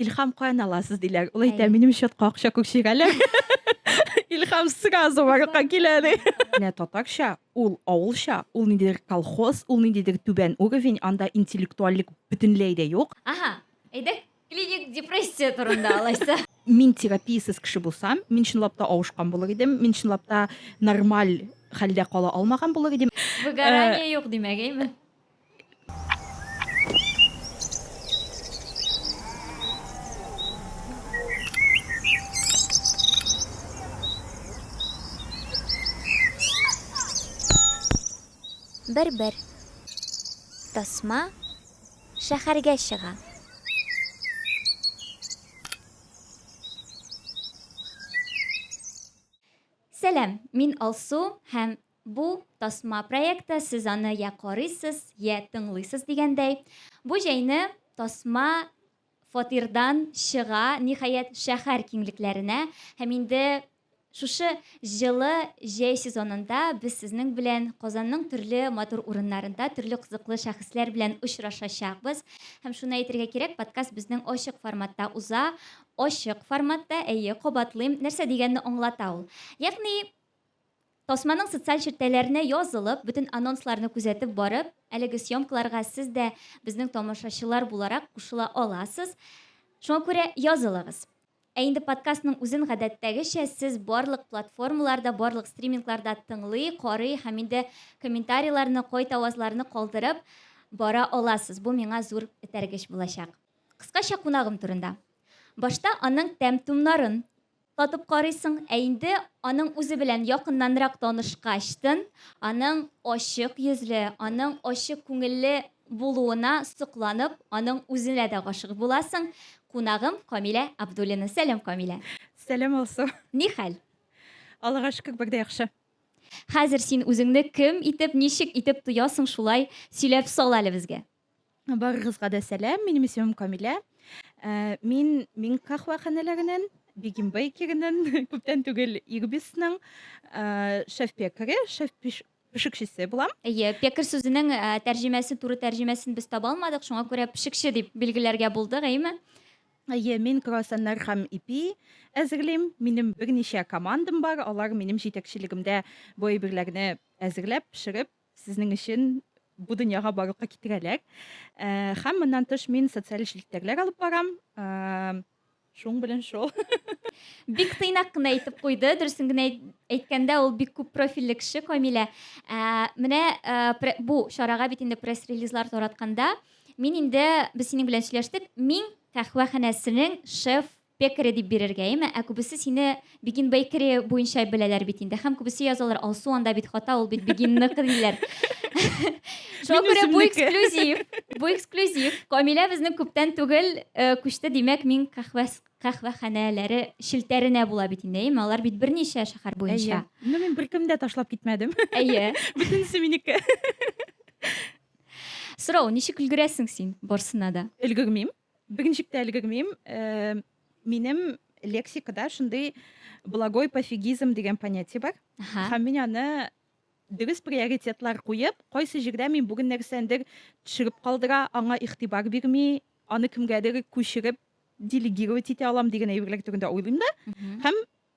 Илхам каян аласыз диләр. Ул әйтә, минем счетка акча күк чигәләр. Илхам сразу барлыкка килә ди. Менә татарча, ул авылча, ул ниндидер колхоз, ул ниндидер түбән уровень, анда интеллектуальлек бөтенләй дә юк. Аһа, әйдәк клиник депрессия турында алайса. Мин терапиясез кеше булсам, мин чынлап та авышкан булыр идем, мин чынлап та нормаль хәлдә кала алмаган булыр идем. Выгорание юк димәк, әйме? Бер-бер. Тасма шәһәргә чыга. Сәлам, мин Алсу һәм Бу, тасма проекты, сез аны йә карыйсыз, йә тыңлыйсыз дигәндәй. Бу җәйне тасма фатирдан чыга, ниһаять, шәһәр киңлекләренә. Һәм инде шушы җылы җәй сезонында без сезнең белән Казанның төрле матур урыннарында төрле кызыклы шәхесләр белән очрашачакбыз. Һәм шуны әйтергә кирәк, подкаст безнең ачык форматта уза. Ачык форматта, әйе, кабатлыйм, нәрсә дигәнне аңлата ул. Ягъни, Тасманың социаль челтәләренә язылып, бөтен анонсларны күзәтеп барып, әлеге съемкаларга сез дә безнең тамашачылар буларак кушыла аласыз. Шуңа күрә язылыгыз. Ә инде подкастның үзен гадәттәгечә сез барлык платформаларда, барлык стримингларда тыңлый, карый һәм инде комментарийларны, кайт авазларны калдырып бара аласыз. Бу миңа зур этәргеч булачак. Кыскача кунагым турында. Башта аның тәм-томнарын Татып карыйсың, ә инде аның үзе белән якыннанрак танышкачтын, аның ачык йөзле, аның ачык күңелле булуына сокланып, аның үзенә дә гашыйк буласың. Кунагым Камилә Абдуллина. Сәлам, Камилә! Сәлам, Алсу! Ни хәл? Аллага шөкер, бик дә яхшы. Хәзер син үзеңне кем итеп, ничек итеп тоясың, шулай сөйләп сал әле безгә. Барыгызга да сәлам, минем исемем Камилә. Э, мин мин кахваханәләреннән, Бигим Бейкереннән, күптән түгел Ирбисның э, шеф-пекаре, шеф-пешекчесе булам. Әйе, пекарь сүзенең э, тәрҗемәсен, туры тәрҗемәсен без таба алмадык, шуңа күрә пешекче дип билгеләргә булдык, әйеме? Әйе, мин круассаннар һәм ипи әзерлим. Минем берничә командам бар, алар минем җитәкчелегемдә бу әйберләрне әзерләп, пешереп Сезнең өчен бу дөньяга барлыкка китерәләр. Һәм моннан тыш мин социаль челтәрләр алып барам. Шуң белән шул. Бик тыйнак кына әйтеп куйды. Дөресен генә әйткәндә, ул бик күп профильле кеше Камилә. Ә, менә ә, бу чарага бит инде пресс-релизлар таратканда, мин инде без синең белән сөйләштек, мин кахвәханәсенең шеф Пекари дип бирергә, эме? Ә күбесе сине Begin Bakery буенча беләләр бит инде. Һәм күбесе язалар, Алсу анда бит хата, ул бит Бегинныкы диләр. Шуңа күрә бу эксклюзив. Бу эксклюзив. Камилә безнең күптән түгел э, күчте, димәк, мин кахвәс кахвәханәләре челтәренә була бит инде, әйеме? Алар бит берничә шәһәр буенча. Ну, мин беркем дә ташлап китмәдем. Әйе. Бөтенесе минеке. Сорау, ничек өлгерәсең син барсына да? Өлгермим. Бик ничек тә өлгермим. Э, минем лексикада шундый благой пофигизм дигән понятие бар. Һәм мин аны дөрес приоритетлар куеп, кайсы җирдә мин бүген нәрсәндер төшереп калдыра, аңа игътибар бирми, аны кемгәдер күчереп делегировать итә алам дигән әйберләр турында уйлыйм да. Һәм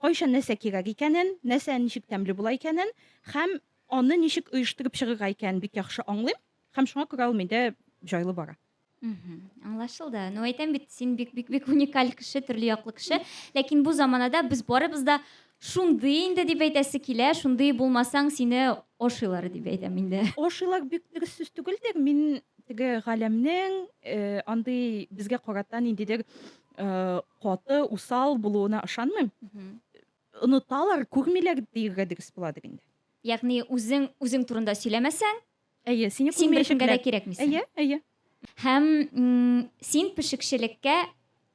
Кайчан нәрсә кирәк икәнен, нәрсә ничек тәмле була икәнен һәм аны ничек оештырып чыгырга икәнен бик яхшы аңлыйм һәм шуңа күрә ул миндә җайлы бара. Мгм. Аңлашылды. Ну, әйтәм бит, син бик бик бик уникаль кеше, төрле яклы кеше. Ләкин бу заманада без барыбыз да шундый инде дип әйтәсе килә, шундый булмасаң, сине ашыйлар дип әйтәм инде. Ашыйлар бик дөрес сүз түгелдер. Мин теге галәмнең э, андый безгә карата ниндидер Э, каты, усал булуына ышанмыйм. Оныталар, күрмиләр диергә дөрес буладыр инде. Ягъни үзең үзең турында сөйләмәсәң, әйе, сине син беркемгә дә кирәкмисең. Әйе, әйе. Һәм син пешекчелеккә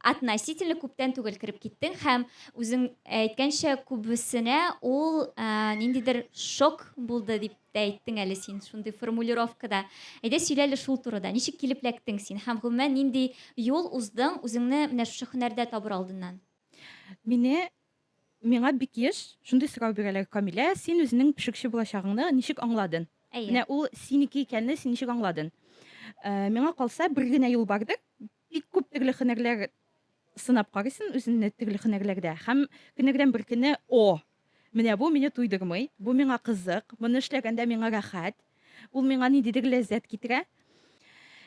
относительно күптән түгел кереп киттең һәм үзең әйткәнчә күбесенә ул э, ниндидер шок булды дип тә әйттең әле син шундый формулировкада. Әйдә сөйлә әле шул турыда. Ничек килеп эләктең син һәм гомумән нинди юл уздың үзеңне менә шушы һөнәрдә табыр алдыннан? Мине миңа бик еш шундый сорау бирәләр, Камилә, син үзенең пешекче булачагыңны ничек аңладың? Әйе. Менә ул синеке икәнне син ничек аңладың? Э, миңа калса, бер генә юл бардыр, Бик күп төрле һөнәрләр сынап карыйсын үзеңне төрле һөнәрләрдә һәм көннәрдән бер көнне, О! Менә бу мине туйдырмый, бу миңа кызык, моны эшләгәндә миңа рәхәт, ул миңа ниндидер ләззәт китерә,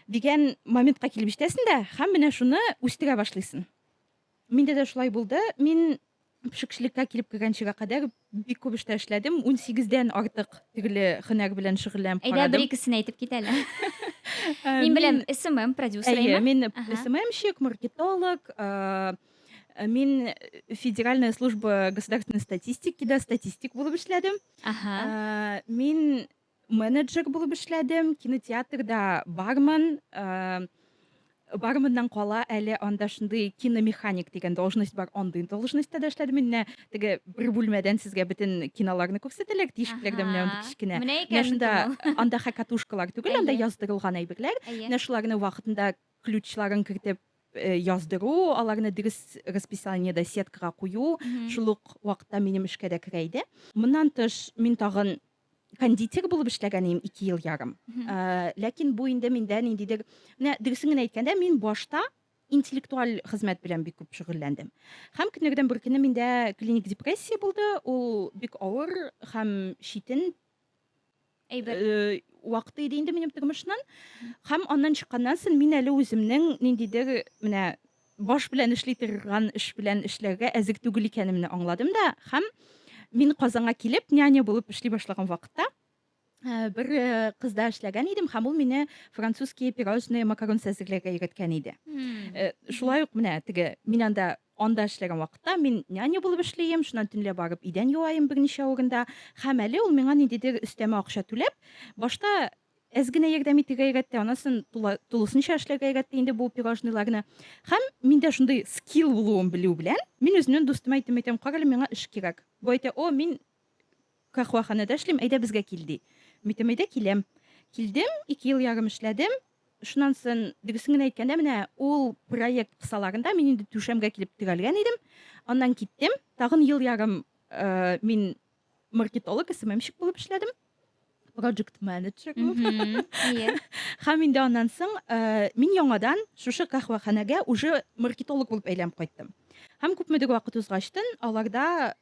дигән моментка килеп җитәсен дә һәм менә шуны үстерә башлыйсын. Миндә дә шулай булды. Мин пешекчелеккә килеп кергәнчегә кадәр бик күп эштә эшләдем. Унсигездән артык төрле һөнәр белән шөгыльләнеп Әйдә, бер икесен әйтеп кит әле. Мин беләм, СММ продюсеры Әйе, әйме? мин Ага. СММщик, маркетолог. э, Мин Федеральная служба государственной статистики да статистик булып эшләдем. Ага. Э, Мин Менеджер булып эшләдем, кинотеатрда барман. Барманнан кала әле анда шундый киномеханик дигән должность бар, андый должностьта да эшләдем. Менә теге бер бүлмәдән сезгә бөтен киноларны күрсәтәләр, тишекләрдә менә андый кечкенә. Менә шунда анда хакатушкалар түгел, анда яздырылган әйберләр. Менә шуларны вакытында ключларын кертеп Э, яздыру, аларны дөрес расписаниедә сеткага кую, шул ук вакытта минем эшкә дә керә иде. Моннан тыш, мин тагын кондитер булып эшләгән идем ике ел ярым э, ләкин бу инде миндә ниндидер менә дөресен генә әйткәндә мин башта интеллектуаль хезмәт белән бик күп шөгыльләндем һәм көннәрдән бер көнне миндә клиник депрессия булды ул бик авыр һәм читен әйбер э, вакыты иде инде минем тормышның һәм аннан чыкканнан соң мин әле үземнең ниндидер менә баш белән эшли торган эш белән эшләргә әзер түгел икәнемне аңладым да һәм мин Казанга килеп няня булып эшли башлаган вакытта э, бер э, кызда эшләгән идем һәм ул мине французские пирожные макарон әзерләргә өйрәткән иде. Э, Шулай ук менә теге мин анда анда эшләгән вакытта мин няня булып эшлим, шуннан төнлә барып идән юаем берничә урында һәм әле ул миңа ниндидер өстәмә акча түләп, башта әз генә ярдәм итергә өйрәтте анысын тула, тулысынча эшләргә өйрәтте инде бу пирожныйларны һәм миндә шундый скилл булуын белү белән мин үземнең дустыма әйтәм әйтәм кара әле миңа эш кирәк бу әйтә о мин кахваханәдә эшлим әйдә безгә кил ди митәм әйдә киләм килдем ике ел ярым эшләдем шуннан соң дөресен генә әйткәндә менә ул проект кысаларында мин инде түшәмгә килеп терәлгән идем аннан киттем тагын ел ярым э, мин маркетолог сммщик булып эшләдем project manager булып һәм инде аннан соң э, мин яңадан шушы каһвәханәгә уже маркетолог булып әйләнеп кайттым һәм күпмедер вакыт узгачтын аларда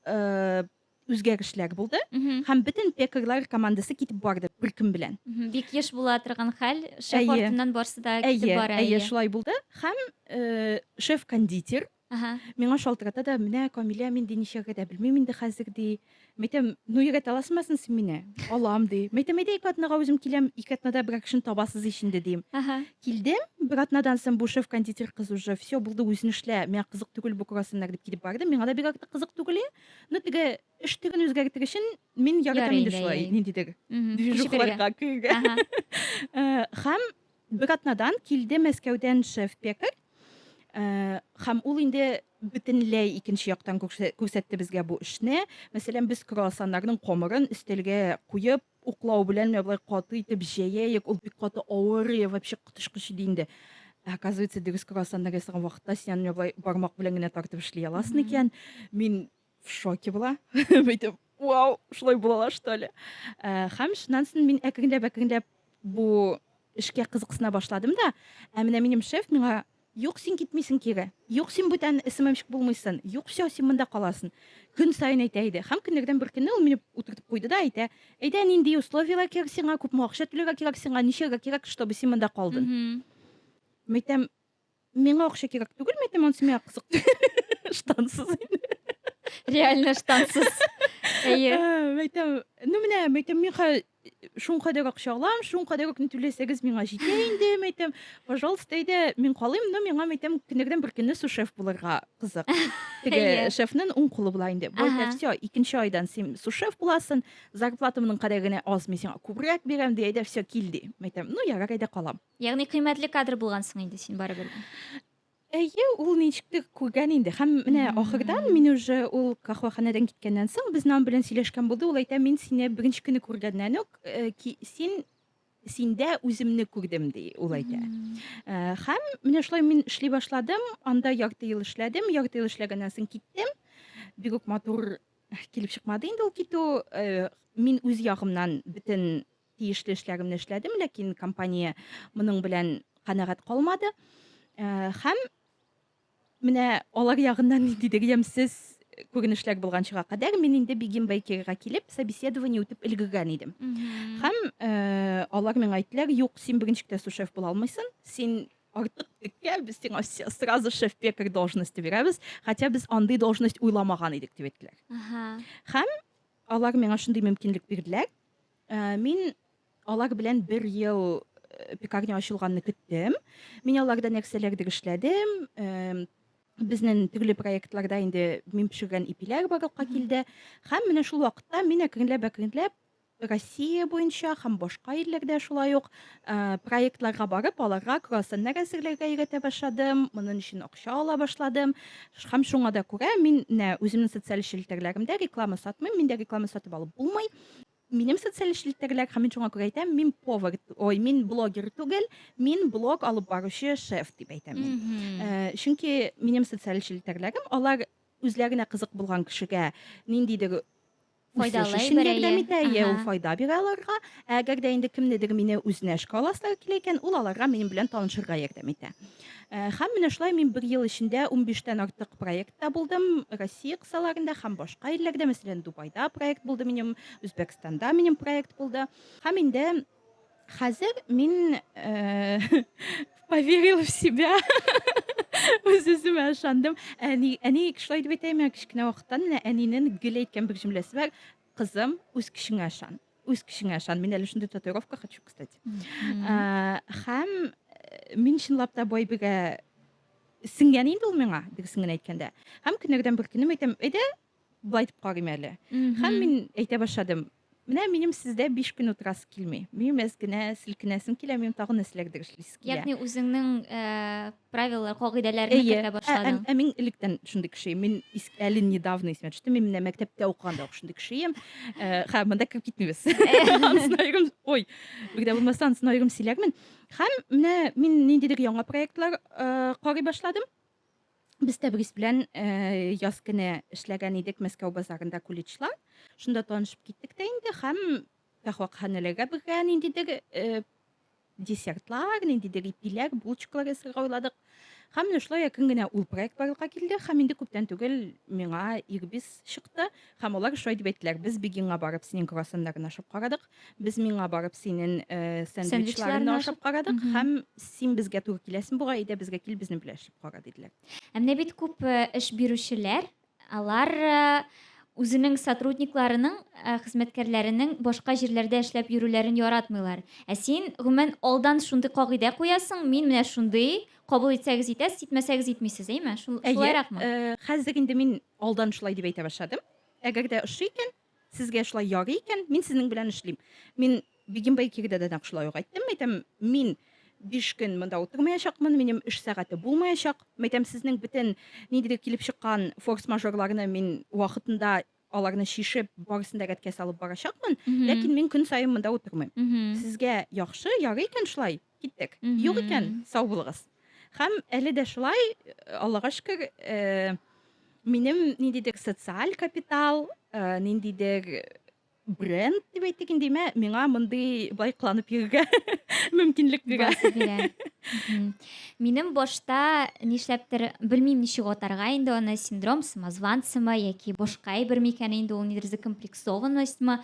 э, үзгәрешләр булды һәм бөтен пекарлар командасы китеп барды бер көн белән бик еш була торган хәл шеф артыннан барсы да китеп бара әйе шулай булды һәм э, шеф кондитер Әһә. Миңа шалтырата да, Менә, Камилә, мин, ди, нишләргә дә белмим инде хәзер, ди. Мәйтәм, Ну, өйрәтә аласмысын син мине? Алам, ди. Мәйтәм, Әйдә, ике атнага үзем киләм, ике атнада берәр кешене табасыз ич инде, дим. Әһә. Килдем, бер атнадан соң бу шеф-кондитер кыз уже, Всё, булды, үзең эшлә, миңа кызык түгел бу круассаннар, дип китеп барды. Миңа да бик артык кызык түгел, и. Ну, теге эш төрен үзгәртер өчен мин яратам Ярый инде инде, шулай әй. ниндидер Мгм. Кеше бирергә. движухаларга керергә. Әһә. Һәм Бер атнадан килде Мәскәүдән шеф-пекарь, һәм ул инде бөтенләй икенче яктан күрсәтте безгә бу эшне. Мәсәлән, без круассаннарның камырын өстәлгә куеп, уклау белән менә болай каты итеп җәяек, ул бик каты авыр, вообще коточкыч иде инде. Ә оказывается, дөрес круассаннар ясаган вакытта син аны менә болай бармак белән генә тартып эшли аласың икән. Мин в шоке була бәйтеп вау шулай булала что ли э, һәм шуннан соң мин әкренләп әкренләп бу эшкә кызыксына башладым да ә менә минем шеф миңа юк син китмисең кире юк син бүтән сммщик булмыйсың юк все син монда каласың көн сайын әйтә иде һәм көннәрдән бер көнне ул мине утыртып куйды да әйтә әйдә нинди условияләр кирәк сиңа күпме акча түләргә кирәк сиңа ничәгә кирәк чтобы син монда калдың мәйтәм Миңа акча кирәк түгел, мин әйтәм, анысы миңа кызык түгел. Штансыз инде. Реально штансыз. Әйе. Ә, Әйтәм, ну менә, мин әйтәм, мин хәзер шуңа кадәр акча алам, шуңа кадәр үк ни түләсәгез миңа җитә инде, мин әйтәм, пожалуйста, әйдә, мин калыйм, но миңа мин әйтәм, көннәрдән бер көнне сушеф булырга кызык. Теге Әйе. шефның уң кулы була инде. Бу Ага. әйтә, все, икенче айдан син сушеф буласың, зарплата моның кадәр генә аз, мин сиңа күбрәк бирәм, ди, әйдә, все, кил, ди. Мин әйтәм, ну ярар, әйдә калам. Ягъни кыйммәтле кадр булгансың инде син барыбер. Әйе, ул ничектер күргән инде. Һәм менә ахырдан мин уже ул кахваханәдән киткәннән соң безнең аның белән сөйләшкән булды. Ул әйтә, мин сине беренче көне күргәннән үк э, ки, син синдә үземне күрдем ди ул әйтә. Э, Һәм менә шулай мин эшли башладым. Анда ярты ел эшләдем. Ярты ел эшләгәннән соң киттем. Бик үк матур килеп чыкмады инде ул китү. Э, Мин үз ягымнан бөтен Тиешле эшләремне эшләдем, ләкин компания моның белән канәгать калмады. Һәм менә алар ягыннан ниндидер ямьсез күренешләр булганчыга кадәр мин инде Бигин Бейкерга килеп, собеседование үтеп өлгергән идем. Һәм э, алар миңа әйттеләр, юк, син беренче класслы шеф була алмыйсың, син артык теккә, без сиңа сразу шеф пекарь должности бирәбез, хотя без андый должность уйламаган идек, дип әйттеләр. Һәм алар миңа шундый мөмкинлек бирделәр, Ә, мин алар белән бер ел э, пекарня ачылганны көттем. Мин аларда нәрсәләрдер эшләдем. Эм, Безнең төрле проектларда инде мин пешергән ипиләр барлыкка килде. Һәм менә шул вакытта мин әкренләп-әкренләп Россия буенча һәм башка илләрдә шулай ук э, проектларга барып, аларга круассаннар әзерләргә өйрәтә башладым. Моның өчен акча ала башладым. Ш- Һәм шуңа да күрә мин нә үземнең социаль челтәрләремдә реклама сатмыйм. Миндә реклама сатып алып булмый. минем социаль челтәрләр һәм мин шуңа күрә әйтәм мин повар ой мин блогер түгел мин блог алып баручы шеф дип әйтәм мин э, чөнки минем социаль челтәрләрем алар үзләренә кызык булган кешегә ниндидер файдалы өчен ярдәм итә иә ул файда бирә аларга әгәр дә инде кемнедер мине үзенә эшкә аласылар килә икән ул аларга минем белән танышырга ярдәм итә Э, һәм менә шулай мин бер ел эчендә унбиштән артык проектта булдым россия кысаларында һәм башка илләрдә мәсәлән дубайда проект булды минем үзбәкстанда минем проект булды һәм инде хәзер мин э, поверил в себя үз үземә ышандым әни әни шулай дип әйтә миңа кечкенә вакыттан менә әнинең гел әйткән бер җөмләсе бар Кызым, үз көчеңә ышан. Үз көчеңә ышан. Мин әле шундый татуировка хочу, кстати. Э, Һәм э, мин чынлап та Байбигә сеңгән инде ул миңа, дөресен генә әйткәндә. Һәм көннәрдән бер көнем әйтәм, әйдә, былай итеп карыйм әле. Һәм мин әйтә башладым, менә минем сездә 5 көн утырасы килми. Минем әз генә селкенәсем килә, минем тагын нәрсәләрдер эшлисе килә. Ягъни үзеңнең э, Правилалар, кагыйдәләрне Әйе. кертә Ә, ә, башладың. ә мин электән шундый кеше идем. Мин ис- әле недавно исемә төште. Мин менә мәктәптә укыганда ук шундый кеше идем. Э, Һәм монда кереп китмибез. Ансын аерым, ой, бер дә булмаса ансын аерым сөйләрмен. Һәм менә мин ниндидер яңа проектлар э, карый башладым. Без Тәбрис белән э, яз көне эшләгән идек Мәскәү базарында куличлар. Шунда танышып киттек тә инде һәм Тәхвакханәләргә бергә ниндидер э, десертлар, ниндидер ипиләр, булочкалар ясарга уйладык. Һәм менә шулай якын генә ул проект барлыкка килде һәм инде күптән түгел миңа ирбис чыкты һәм алар шулай дип әйттеләр, без Бегинга барып синең круассаннарыңны ашап карадык, без миңа барып синең э, сэндвичларыңны ашап карадык һәм син безгә туры киләсең буга, әйдә безгә кил, безнең белән эшләп кара, диделәр. Ә менә бит күп э, эш бирүчеләр Алар үзенең сотрудникларының, хезмәткәрләренең башка җирләрдә эшләп йөрүләрен яратмыйлар. Ә син, гомумән, алдан шундый кагыйдә куясың, мин менә шундый, кабул итсәгез итәсез, итмәсәгез итмисез, әйме? Шул, шулайракмы? Әйе, хәзер инде мин алдан шулай дип әйтә башладым. Әгәр дә ошый икән, Сезгә шулай ярый икән, мин сезнең белән эшлим. Мин Бегим Байкирдә дә нәкъ шулай ук әйттем. Әйтәм, мин биш көн монда утырмаячакмын, минем эш сәгате булмаячак. Әйтәм, сезнең бөтен ниндидер килеп чыккан форс-мажорларны мин вакытында аларны чишеп, барысын да рәткә салып барачакмын, ләкин мин көн саен монда утырмыйм. Сезгә яхшы, ярый икән шулай? Киттек. Юк икән, сау булыгыз. Һәм әле дә шулай, Аллага шөкер, э, минем ниндидер социаль капитал, э, ниндидер бренд дип әйтик инде, мә, миңа мондый былай кыланып йөрергә мөмкинлек бирә. Басы бирә. Мгм. Минем башта нишләптер, белмим ничек атарга инде аны, синдром самозванцамы яки башка әйбер микән инде ул, нидер закомплексованностьмы.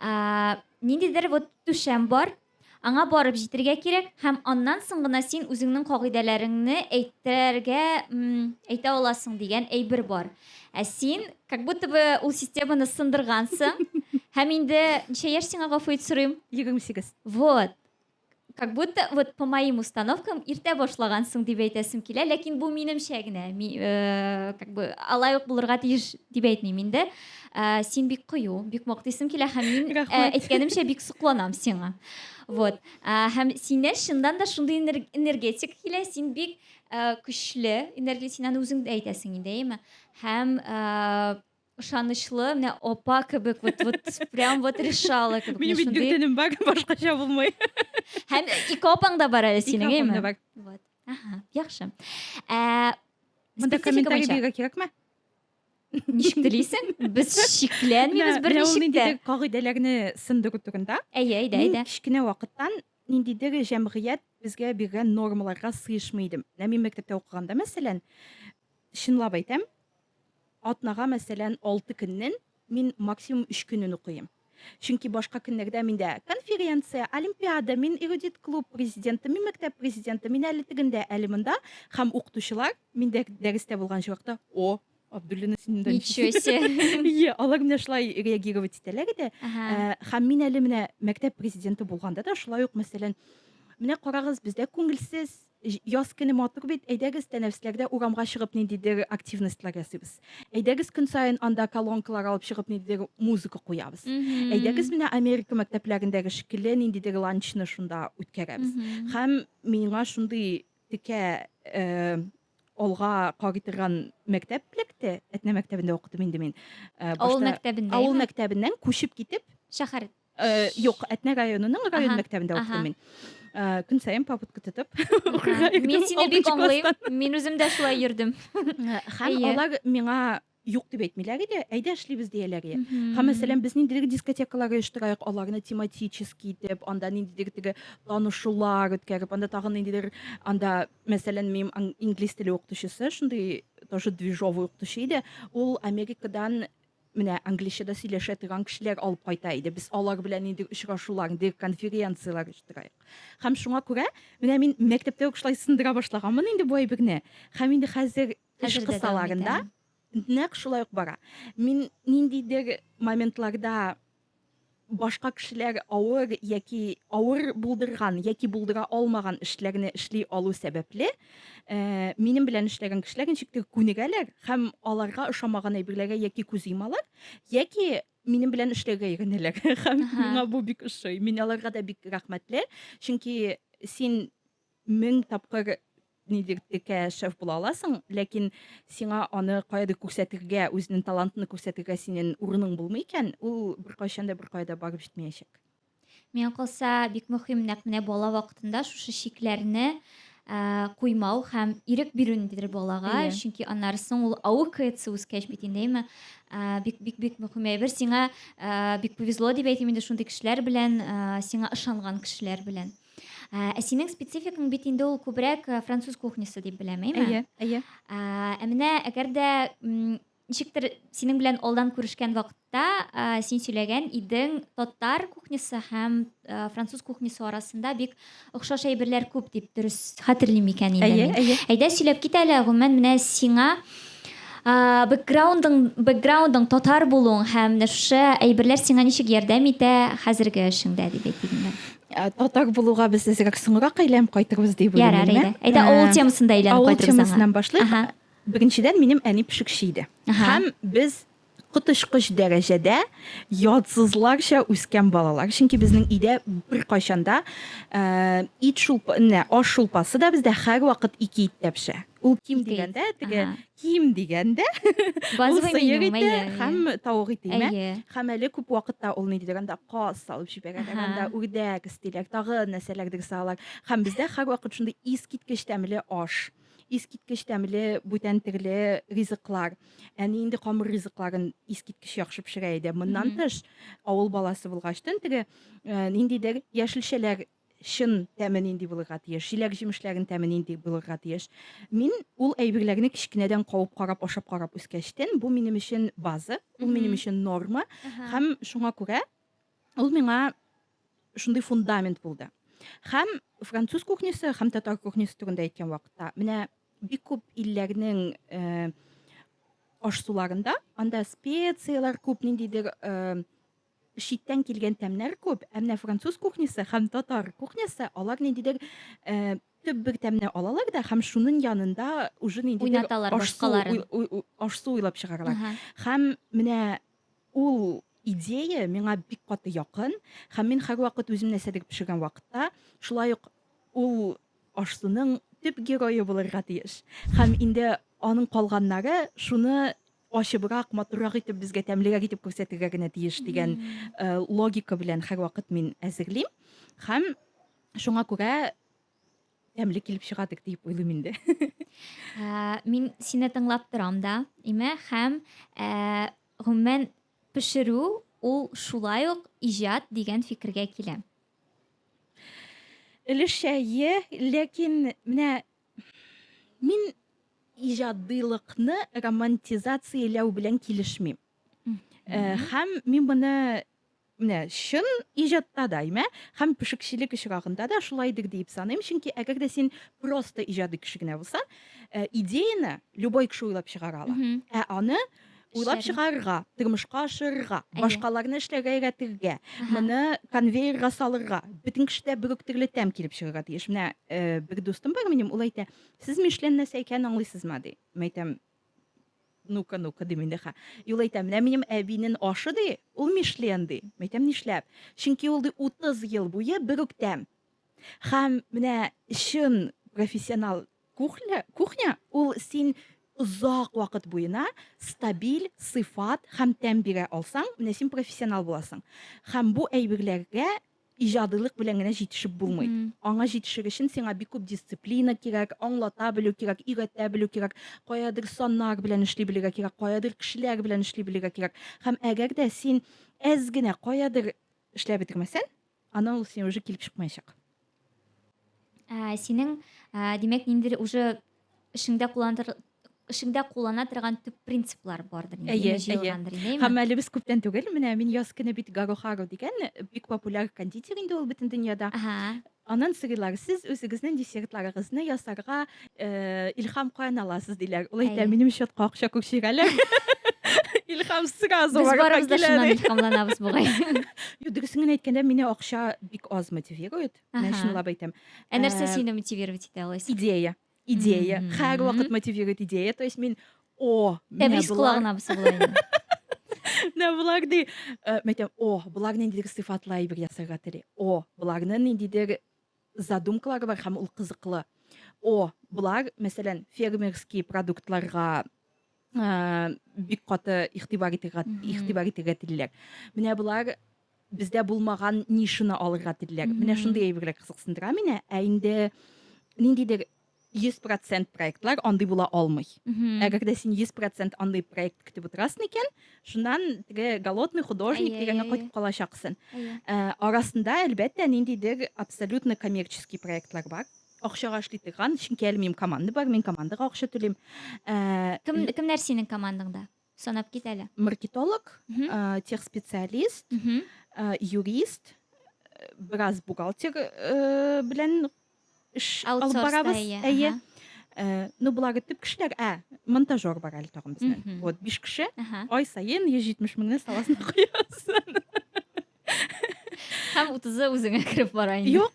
А, Ниндидер вот түшәм бар, Аңа барып җитергә кирәк, һәм аннан соң гына син үзеңнең кагыйдәләреңне әйтергә, м, әйтә аласың дигән әйбер бар. Ә син как будто бы ул системаны сындыргансың. Һәм инде ничә яшь сиңа, гафу ит сорыйм? 28. Вот. Как будто вот по моим установкам иртә башлагансың дип әйтәсем килә, ләкин бу минемчә генә. Ми, э, как бы алай ук булырга тиеш дип әйтмим инде. Ә, син бик кыю, бик мактыйсың килә һәм мин ә, Рәхмәт. әйткәнемчә бик сокланам сиңа. Вот. Ә, һәм синнән чыннан да шундый энер- энергетика килә, син бик ә, көчле энергия, син аны үзең дә әйтәсең инде, әйеме? Һәм ә, ышанычлы, менә апа кебек, вот, вот, прям вот решала кебек. Минем менә бит шундый. бөтенем бар, башкача булмый. Һәм ике апаң да бар әле Ике синең, апам әйеме? да бар. Вот. Ага, яхшы. Ә, Монда статистика комментарий буенча- бирергә кирәкме? ничек телисең без шикләнмибез бер ничек тә кагыйдәләрне сынды көтүгендә әйе әйдә әйдә кечкенә вакыттан ниндидер җәмгыять безгә биргән нормаларга сыешмый идем менә мин мәктәптә укыганда мәсәлән чынлап әйтәм атнага мәсәлән алты көннән мин максимум өч көнен укыйм Чөнки башка көннәрдә миндә конференция, олимпиада, мин эрудит клуб президенты, мин мәктәп президенты, мин әле тегендә, әле монда. Һәм укытучылар миндә дәрестә булган чакта, о, Абдуллина син монда Ничего себе. Иә, алар менә шулай реагировать итәләр иде. Ә, Һәм мин әле менә мәктәп президенты булганда да шулай ук, мәсәлән, менә карагыз, бездә күңелсез Җ яз көне матур бит, әйдәгез, тәнәфесләр дә урамга чыгып ниндидер активностьлар ясыйбыз. Әйдәгез, көн саен анда колонкалар алып чыгып ниндидер музыка куябыз. Әйдәгез, Мгм. менә Америка мәктәпләрендәге шикелле ниндидер ланчны шунда үткәрәбез. Мгм. Һәм миңа шундый текә э алга карый торган мәктәп эләкте. Әтнә мәктәбендә укыдым инде мин. Э Авыл башта авыл мәктәбендәме? мәктәбеннән күчеп китеп, Шәһәр. Э, юк, Әтнә районының район мәктәбендә укыдым мин. Э, көн саен попытка тотып укырга йөрдем. Мин сине бик аңлыйм. Мин үзем дә шулай йөрдем. Э, һәм алар миңа юк дип әйтмиләр иде әйдә эшлибез дияләр иде һәм мәсәлән без ниндидер дискотекалар оештырайык аларны тематический итеп анда ниндидер теге танышулар үткәреп анда тагын ниндидер анда мәсәлән минем инглиз теле укытучысы шундый тоже движовый укытучы иде ул америкадан Менә англича да сөйләшә торган кешеләр алып кайта иде. Без алар белән нинди очрашулар, нинди конференцияләр оештырыйк. Һәм шуңа күрә менә мин мәктәптә үк шулай сындыра башлаганмын инде бу әйберне. Һәм инде хәзер эш кысаларында нәкъ шулай ук бара. Мин ниндидер моментларда башка кешеләр авыр яки авыр булдырган яки булдыра алмаган эшләрне эшли алу сәбәпле э, минем белән эшләгән кешеләр ничектер күнегәләр һәм аларга ошамаган әйберләргә яки күз йомалар яки минем белән эшләргә өйрәнәләр һәм миңа бу бик ошый мин аларга да бик рәхмәтле чөнки син мең тапкыр нинди текә шеф була аласың, ләкин сиңа аны каядыр күрсәтергә, үзенең талантын күрсәтергә синең урының булмый икән, ул беркайчан да беркая да барып җитмәячәк. Миңа калса, бик мөһим нәкъ менә бала вакытында шушы чикләрне куймау һәм ирек бирү ниндидер балага, yeah. чөнки аннары соң ул аукается үскәч бит инде, әйме, бик бик бик мөһим әйбер. Сиңа бик повезло дип әйтим инде шундый кешеләр белән, сиңа ышанган кешеләр белән. Ә, ә синең спецификаң бит инде ул күбрәк э, француз кухнясы дип беләм, әйме? Әйе, әйе. Ә, ә менә әгәр дә м, ничектер синең белән алдан күрешкән вакытта ә, син сөйләгән идең татар кухнясы һәм ә, француз кухнясы арасында бик охшаш әйберләр күп дип дөрес хәтерлим икән инде Әйе, мин. әйе. Әйдә сөйләп кит әле, гомумән менә сиңа а, бэкграундың бэкграундың татар булуың һәм менә шушы әйберләр сиңа ничек ярдәм итә хәзерге эшеңдә дип әйтик инде. Ә, татар булуга без әзрәк соңрак әйләнеп кайтырбыз дип уйлыйм. Ярар, әйдә. Әйдә, авыл темасын да әйләнеп кайтырбыз. Авыл темасыннан башлыйк. Беренчедән, минем әни пешекче иде. Һәм без коточкыч дәрәҗәдә ятсызларча үскән балалар. Чөнки безнең өйдә беркайчан да э, ит шулпа, не, аш шулпасы да бездә һәрвакыт ике иттә пешә. Ул ким дигәндә, теге Ким дигәндә, ул Базовый меню, сыер ите әйе, әйе. һәм тавык ите имә. Әйе. Һәм әле күп вакытта ул ни дидер анда каз салып җибәрәләр, Аһа. анда үрдәк өстиләр, тагы нәрсәләрдер салалар. Һәм бездә һәрвакыт шундый искиткеч тәмле аш, искиткеч тәмле бүтән төрле ризыклар. Әни инде камыр ризыкларын искиткеч яхшы пешерә иде. Моннан Мгм. тыш, авыл баласы булгач, төн теге э, ниндидер яшелчәләр чын тәме нинди булырга тиеш, җиләк җимешләрен тәме нинди булырга тиеш. Мин ул әйберләрне кечкенәдән кавып карап, ашап карап үскәчтен, бу минем өчен база, ул минем өчен норма, һәм шуңа күрә ул миңа шундый фундамент булды. Һәм француз кухнясы, һәм татар кухнясы турында әйткән вакытта, менә бик күп илләрнең э, ашсуларында анда специяләр күп ниндидер э, читтән килгән тәмнәр күп, ә менә француз кухнясы һәм татар кухнясы алар ниндидер э, төп бер тәмне алалар да һәм шуның янында уже ниндидер Уйнаталар аш-су башкаларын. уй- уй- уй- аш-су уйлап чыгаралар. Ага. Һәм менә ул идея миңа бик каты якын һәм мин һәрвакыт үзем нәрсәдер пешергән вакытта шулай ук ул аш-суның төп герое булырга тиеш. Һәм инде аның калганнары шуны ачыбрак, матуррак итеп, безгә тәмлерәк итеп күрсәтергә генә тиеш дигән э, логика белән һәрвакыт мин әзерлим. Һәм шуңа күрә тәмле килеп чыга дип уйлыйм инде. Ә, мин сине тыңлап торам да, име, һәм ә, гомумән пешерү ул шулай ук иҗат дигән фикергә киләм. Өлешчә, ләкин менә Мин иҗадыйлыкны романтизацияләү белән килешмим. Э, һәм мин моны менә чын иҗатта да, имә, һәм пешекчелек очрагында да шулайдыр диеп саныйм, чөнки әгәр дә син просто иҗади кеше генә булсаң, э, идеяны любой кеше уйлап чыгара ала. Ә аны уйлап чыгарырга тормышка ашырырга башкаларны эшләргә өйрәтергә моны конвейерга салырга бөтен кешедә бер үк төрле тәм килеп чыгарга тиеш менә э, бер дустым бар минем ул әйтә сез мишлен нәрсә икәнен аңлыйсызмы ди мин әйтәм ну-ка ну-ка ди мин дәха и ул әйтә менә минем әбинен ашы ди ул мишлен ди мин әйтәм нишләп чөнки ул ди утыз ел буе бер үк тәм һәм менә чын профессионал Кухля, кухня ул син озак вакыт буена стабиль сыйфат һәм тәм бирә алсаң, менә син профессионал буласың. Һәм бу әйберләргә иҗадилык белән генә җитешеп булмый. Mm -hmm. Аңа җитешер өчен сиңа бик күп дисциплина кирәк, аңлата белү кирәк, өйрәтә белү кирәк, каядыр саннар белән эшли белергә кирәк, каядыр кешеләр белән эшли белергә кирәк. Һәм әгәр дә син әз генә каядыр эшләп бетермәсәң, Ана ул сине уже килеп чыкмаячак. Ә, синең, ә, димәк, ниндидер уже эшеңдә кулланыр эшеңдә куллана торган төп принциплар бардыр инде әйе, җыелгандыр инде һәм әле без күптән түгел менә мин яз көне бит гарохару дигән бик популяр кондитер инде ул бөтен дөньяда анын сырлары сез үзегезнең десертларыгызны ясарга Э, Илхам каян аласыз диләр. Ул әйтә, минем счетка акча күк чигәләр. Илхам сразу Без барыбыз да шуннан илхамланабыз бугай. Юк, дөресен генә әйткәндә, мине акча бик аз мотивирует. Мин чынлап әйтәм. Ә нәрсә э, сине мотивировать итә алайса? Идея. Идея. Һәр вакыт мотивирует идея. То есть мин о, Тәбрис колагына бусы була Менә булар ди. Э, Мәйтәм, о, булар ниндидер сыйфатлы әйбер ясарга тели. О, буларны ниндидер задумкалары бар һәм ул кызыклы. О, болар, мәсәлән, фермерский продуктларга бик каты игътибар итергә игътибар итергә телиләр. Менә болар бездә булмаган нишаны алырга телиләр. Менә шундый әйберләр кызыксындыра мине. Ә инде ниндидер Йөз процент проектлар андый була алмый. Әгәр дә син йөз процент андый проект көтеп утырасың икән, шуннан теге голодный художник дигәнгә кайтып калачаксың. Ә, арасында, әлбәттә, ниндидер абсолютно коммерческий проектлар бар. Акчага эшли торган, чөнки әле минем команда бар, мин командага акча түлим. Ә, Кем, кемнәр синең командаңда? Санап кит әле. Маркетолог, э, техспециалист, э, юрист, э, бераз бухгалтер э, белән эш алып барабыз. Әйе. Э, ну, булары төп кешеләр, ә, монтажер бар әле тагын безнең. Вот, биш кеше, ай саен 170 меңне саласына куясың. Һәм 30-ы үзеңә кереп бара инде. Юк.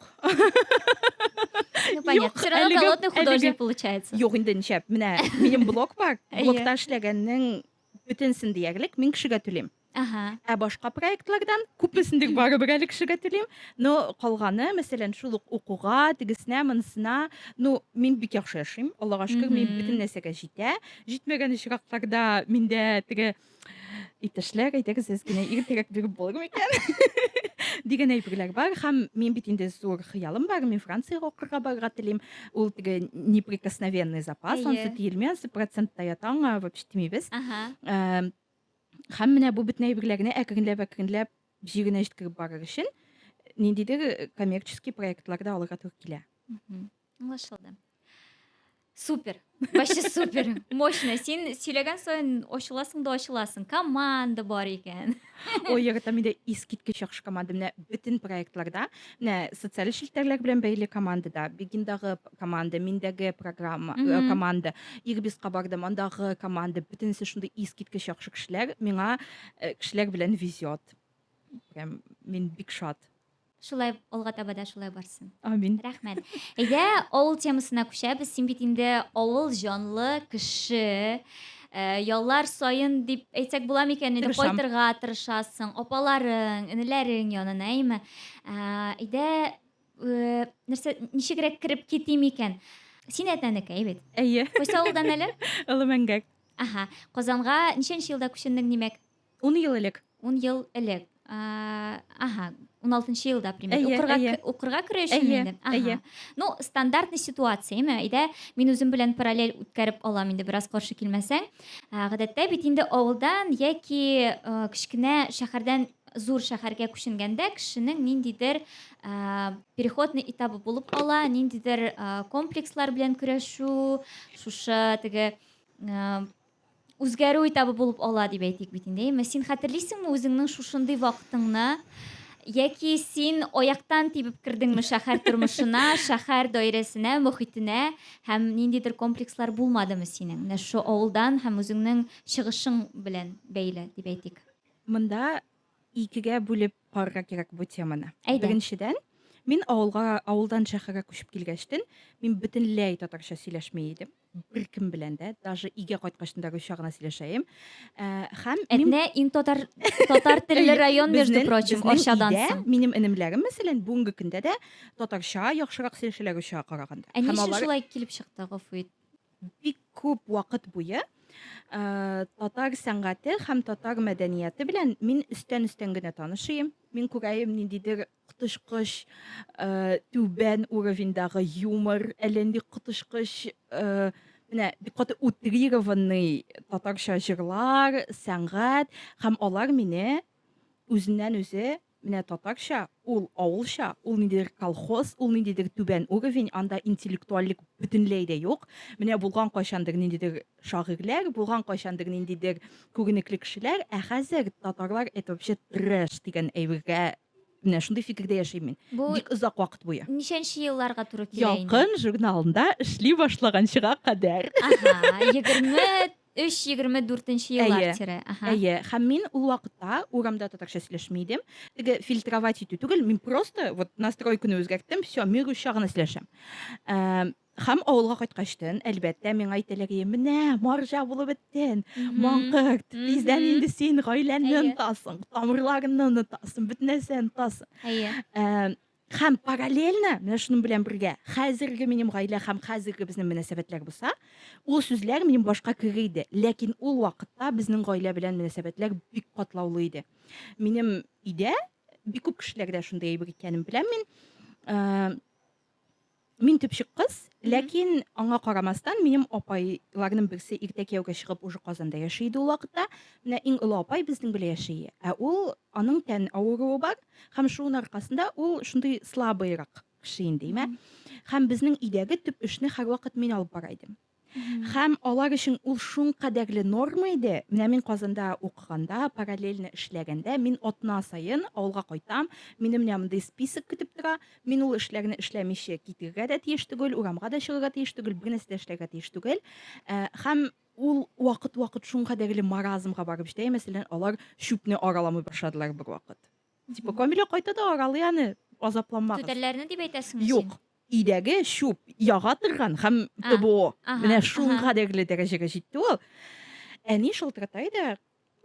Ну понятно. Все равно голодный художник получается. Юк инде ничә. Менә минем блок бар. Блокта эшләгәннең бөтенсен диярлек мин кешегә түлим. Ага. Ә башка проектлардан күпесен дик барыбер әле кешегә түлим. Но калганы, мәсәлән, шул ук укуга, тегесенә, монысына, ну, мин бик яхшы яшим. Аллага шөкер, мин бөтен нәрсәгә җитә. Җитмәгән очракларда миндә теге Иптәшләр, әйтегез, сез генә иртәрәк биреп булыр микән? дигән әйберләр бар һәм мин бит инде зур хыялым бар мин франциягә укырга барырга телим ул теге неприкосновенный запас ансы тиелми ансы процентта ята аңа вообще тимибез һәм менә бу бөтен әйберләрне әкренләп әкренләп җиренә җиткереп барыр өчен ниндидер коммерческий проектлар да алырга туры килә Аңлашылды. Супер. Вообще супер. Мощно. Син сөйләгән саен ачыласың да ачыласың. Команда бар икән. Ой, яратам инде искиткеч яхшы команда. Менә бөтен проектларда, менә социаль челтәрләр белән бәйле командада, Бегиндагы команда, миндәге программа, э, команда, Ирбиска бардым, андагы команда, бөтенесе шундый искиткеч яхшы кешеләр. Миңа э, кешеләр белән везет. Прям мин бик шат. Шулай алга таба да шулай барсын. Амин. Рәхмәт. Әйдә, авыл темасына күчәбез. Син бит инде авыл җанлы кеше. Э, яллар саен дип әйтсәк була микән инде Тырышам. кайтырга тырышасың апаларың энеләрең янына әйме Ә, әйдә э, нәрсә ничегрәк кереп китим икән син әтнәнекәй бит Әйе. кайсы авылдан әле Олы мәңгәк. аха казанга ничәнче елда күченең димәк Ун ел элек. Ун ел элек. Ага, ун алтынчы елда примерно укырга керү өчен инде. Ага. Ну, стандартный ситуация, әйме? Әйдә, мин үзем белән параллель үткәреп алам инде, бераз каршы килмәсәң. Гадәттә бит инде авылдан яки кечкенә шәһәрдән зур шәһәргә күченгәндә кешенең ниндидер переходный этабы булып кала, ниндидер комплекслар белән көрәшү, шушы теге Үзгәрү этабы булып ала, дип әйтик бит инде, әйеме? Син хәтерлисеңме үзеңнең шушындый вакытыңны? Яки син аяктан тибеп кердеңме шәһәр тормышына, шәһәр даирәсенә, мохитенә һәм ниндидер комплекслар булмадымы синең? Менә шушы авылдан һәм үзеңнең чыгышың белән бәйле, дип әйтик. Монда икегә бүлеп карарга кирәк бу теманы. Әйдә. Беренчедән, мин авылга, авылдан шәһәргә күчеп килгәчтен, мин бөтенләй татарча сөйләшми идем. беркем белән дә даже өйгә кайткачындагы чагына сөйләшәем ә, һәм әтнә ин татар татар телле район между прочим арчадан соң минем энемләрем мәсәлән бүгенге көндә дә татарча яхшырак сөйләшәләр оча караганда ә ни өчен шулай килеп чыкты гафу ит бик күп вакыт буе ә, татар сәнгате һәм татар мәдәнияте белән мин өстән өстән генә танышыйм мин күрәем ниндидер коточкыч түбән уровеньдагы юмор, әллә нинди коточкыч менә бик каты утрированный татарча җырлар, сәнгать һәм алар мине үзеннән үзе менә татарча, ул авылча, ул ниндидер колхоз, ул ниндидер түбән уровень, анда интеллектуальлек бөтенләй дә юк. Менә булган кайчандыр ниндидер шагыйрьләр, булган кайчандыр ниндидер күренекле кешеләр, ә хәзер татарлар это вообще трэш дигән әйбергә менә шундый фикердә яшим мин. Бу бик озак вакыт буе. Ничәнче елларга туры килә инде? Ялкын журналында эшли башлаганчыга кадәр. Ага, 23-24 еллар тирә. Ага. Әйе, һәм мин ул вакытта урамда татарча сөйләшми идем. Теге фильтровать итү түгел, мин просто вот настройканы үзгәрттем, все, мир учагына сөйләшәм. Ә, Хәм авылга кайткачтын, әлбәттә, миңа әйтәләгие, менә, марҗа булып беттен, маңкырт, тиздән инде син гаиләнне онтасың, тамырларынны онытасың, бөтен нәрсә онытасың. Хәм параллельно, менә шуның белән бергә, хәзерге минем гаилә хәм хәзерге безнең мөнәсәбәтләр булса, ул сүзләр минем башка кеге иде. Ләкин ул вакытта безнең гаилә белән мөнәсәбәтләр бик катлаулы иде. Минем өйдә бик күп кешеләрдә шундый әйбер икәнен беләм мин. Мин төпчек кыз, ләкин аңа карамастан, минем апайларның берсе иртә кияүгә чыгып уже Казанда яши иде ул вакытта. Менә иң олы апай безнең белән яши. Ә ул аның тән авыруы бар һәм шуның аркасында ул шундый слабыйрак кеше инде, имә. Һәм безнең өйдәге төп эшне һәрвакыт мин алып бара идем. Һәм алар өчен ул шулкадәрле норма иде. Менә мин Казанда укыганда, параллельно эшләгәндә, мин атна саен авылга кайтам, мине менә мондый список көтеп тора, мин ул эшләрне эшләмичә китергә дә тиеш түгел, урамга да чыгарга тиеш түгел, бернәрсә дә эшләргә тиеш түгел. Э, һәм ул вакыт-вакыт шулкадәрле маразмга барып җитә, мәсәлән, алар чүпне араламый башладылар бер вакыт. Типа, Камилә кайта да аралый аны, азапланмагыз. Түтәлләрне дип әйтәсеңме син? Юк, Өйдәге чүп яга торган һәм ТБО. Менә шул кадәрле дәрәҗәгә җитте ул. Әни шылтырата иде,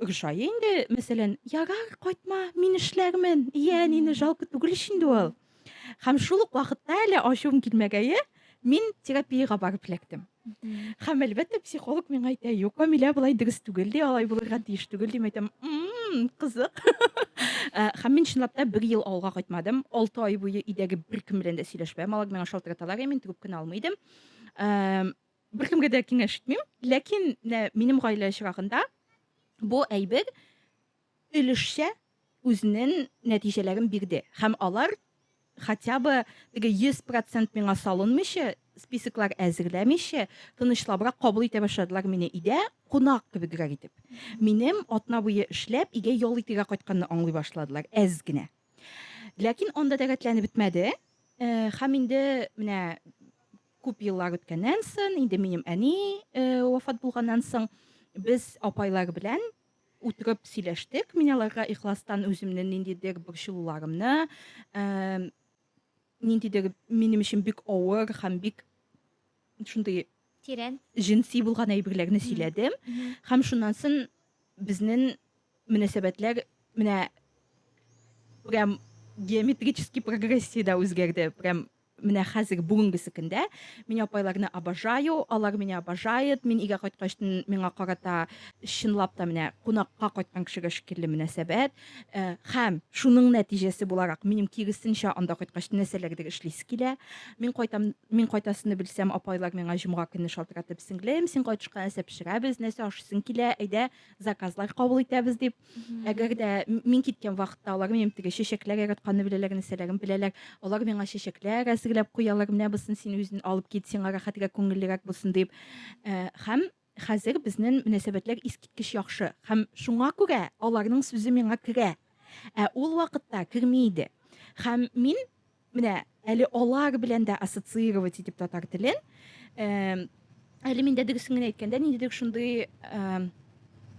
ошай инде, мәсәлән, ярар, кайтма, мин эшләрмен. Иә, әнине жалко түгел ич инде ул. Һәм шул ук вакытта әле ачуым килмәгәе, мин терапиягә барып эләктем. Һәм әлбәттә психолог миңа әйтә, юк, Камилә, болай дөрес түгел ди, алай булырга тиеш түгел дим әйтәм. Мм, кызык. Э, һәм мин чынлап та бер ел авылга кайтмадым. Алты ай буе өйдәге беркем белән дә сөйләшмәдем. Алар миңа шалтыраталар, мин трубканы алмый идем. Э, беркемгә дә киңәш итмим. Ләкин менә минем гаилә чирагында бу әйбер өлешчә үзнен нәтиҗәләрен бирде һәм алар хотя бы теге 100 процент миңа салынмыйча, списоклар әзерләмичә, тынычлабрак кабул итә башладылар мине идә кунак кебегрәк итеп. Минем атна буе эшләп игә ял итергә кайтканны аңлый башладылар әз генә. Ләкин анда да рәтләнеп бетмәде. Һәм инде менә күп еллар үткәннән сон, инде минем әни вафат булганнан соң, без апайлар белән утырып сөйләштек. Мин аларга ихластан үземне ниндидер борчылуларымны, ә, ниндидер минем өчен бик авыр һәм бик шундый тирән җенси булган әйберләрне сөйләдем. Һәм шуннан соң безнең мөнәсәбәтләр менә прям геометрический прогрессиядә үзгәрде. Прям Менә хәзерге бүгенге секендә мин апайларны обожаю, алар меня обожает, мин өйгә кайткач миңа карата чынлап та менә кунакка кайткан кешегә шикелле мөнәсәбәт. Э, һәм шуның нәтиҗәсе буларак минем киресенчә анда кайткач нәрсәләрдер эшлисе килә. Мин кайтам, мин кайтасыны белсәм, апайлар миңа җомга көне шалтыратып, сеңлем, син кайтышка нәрсә пешерәбез, нәрсә ашыйсың килә, әйдә, заказлар кабул итәбез дип. Әгәр дә мин киткән вакытта алар минем теге чәчәкләр яратканны беләләр, нәрсәләрен беләләр. Алар миңа чәчәкләр әзерләп куялар, менә бусын син үзен алып кит, сиңа рәхәтрәк, күңеллерәк булсын дип. Э, һәм хәзер безнең мөнәсәбәтләр искиткеч яхшы. Һәм шуңа күрә аларның сүзе миңа керә. Ә ул вакытта керми иде. Һәм мин Менә әле алар белән дә ассоциировать итеп татар телен. Әле миндә дөресен генә әйткәндә, ниндидер шундый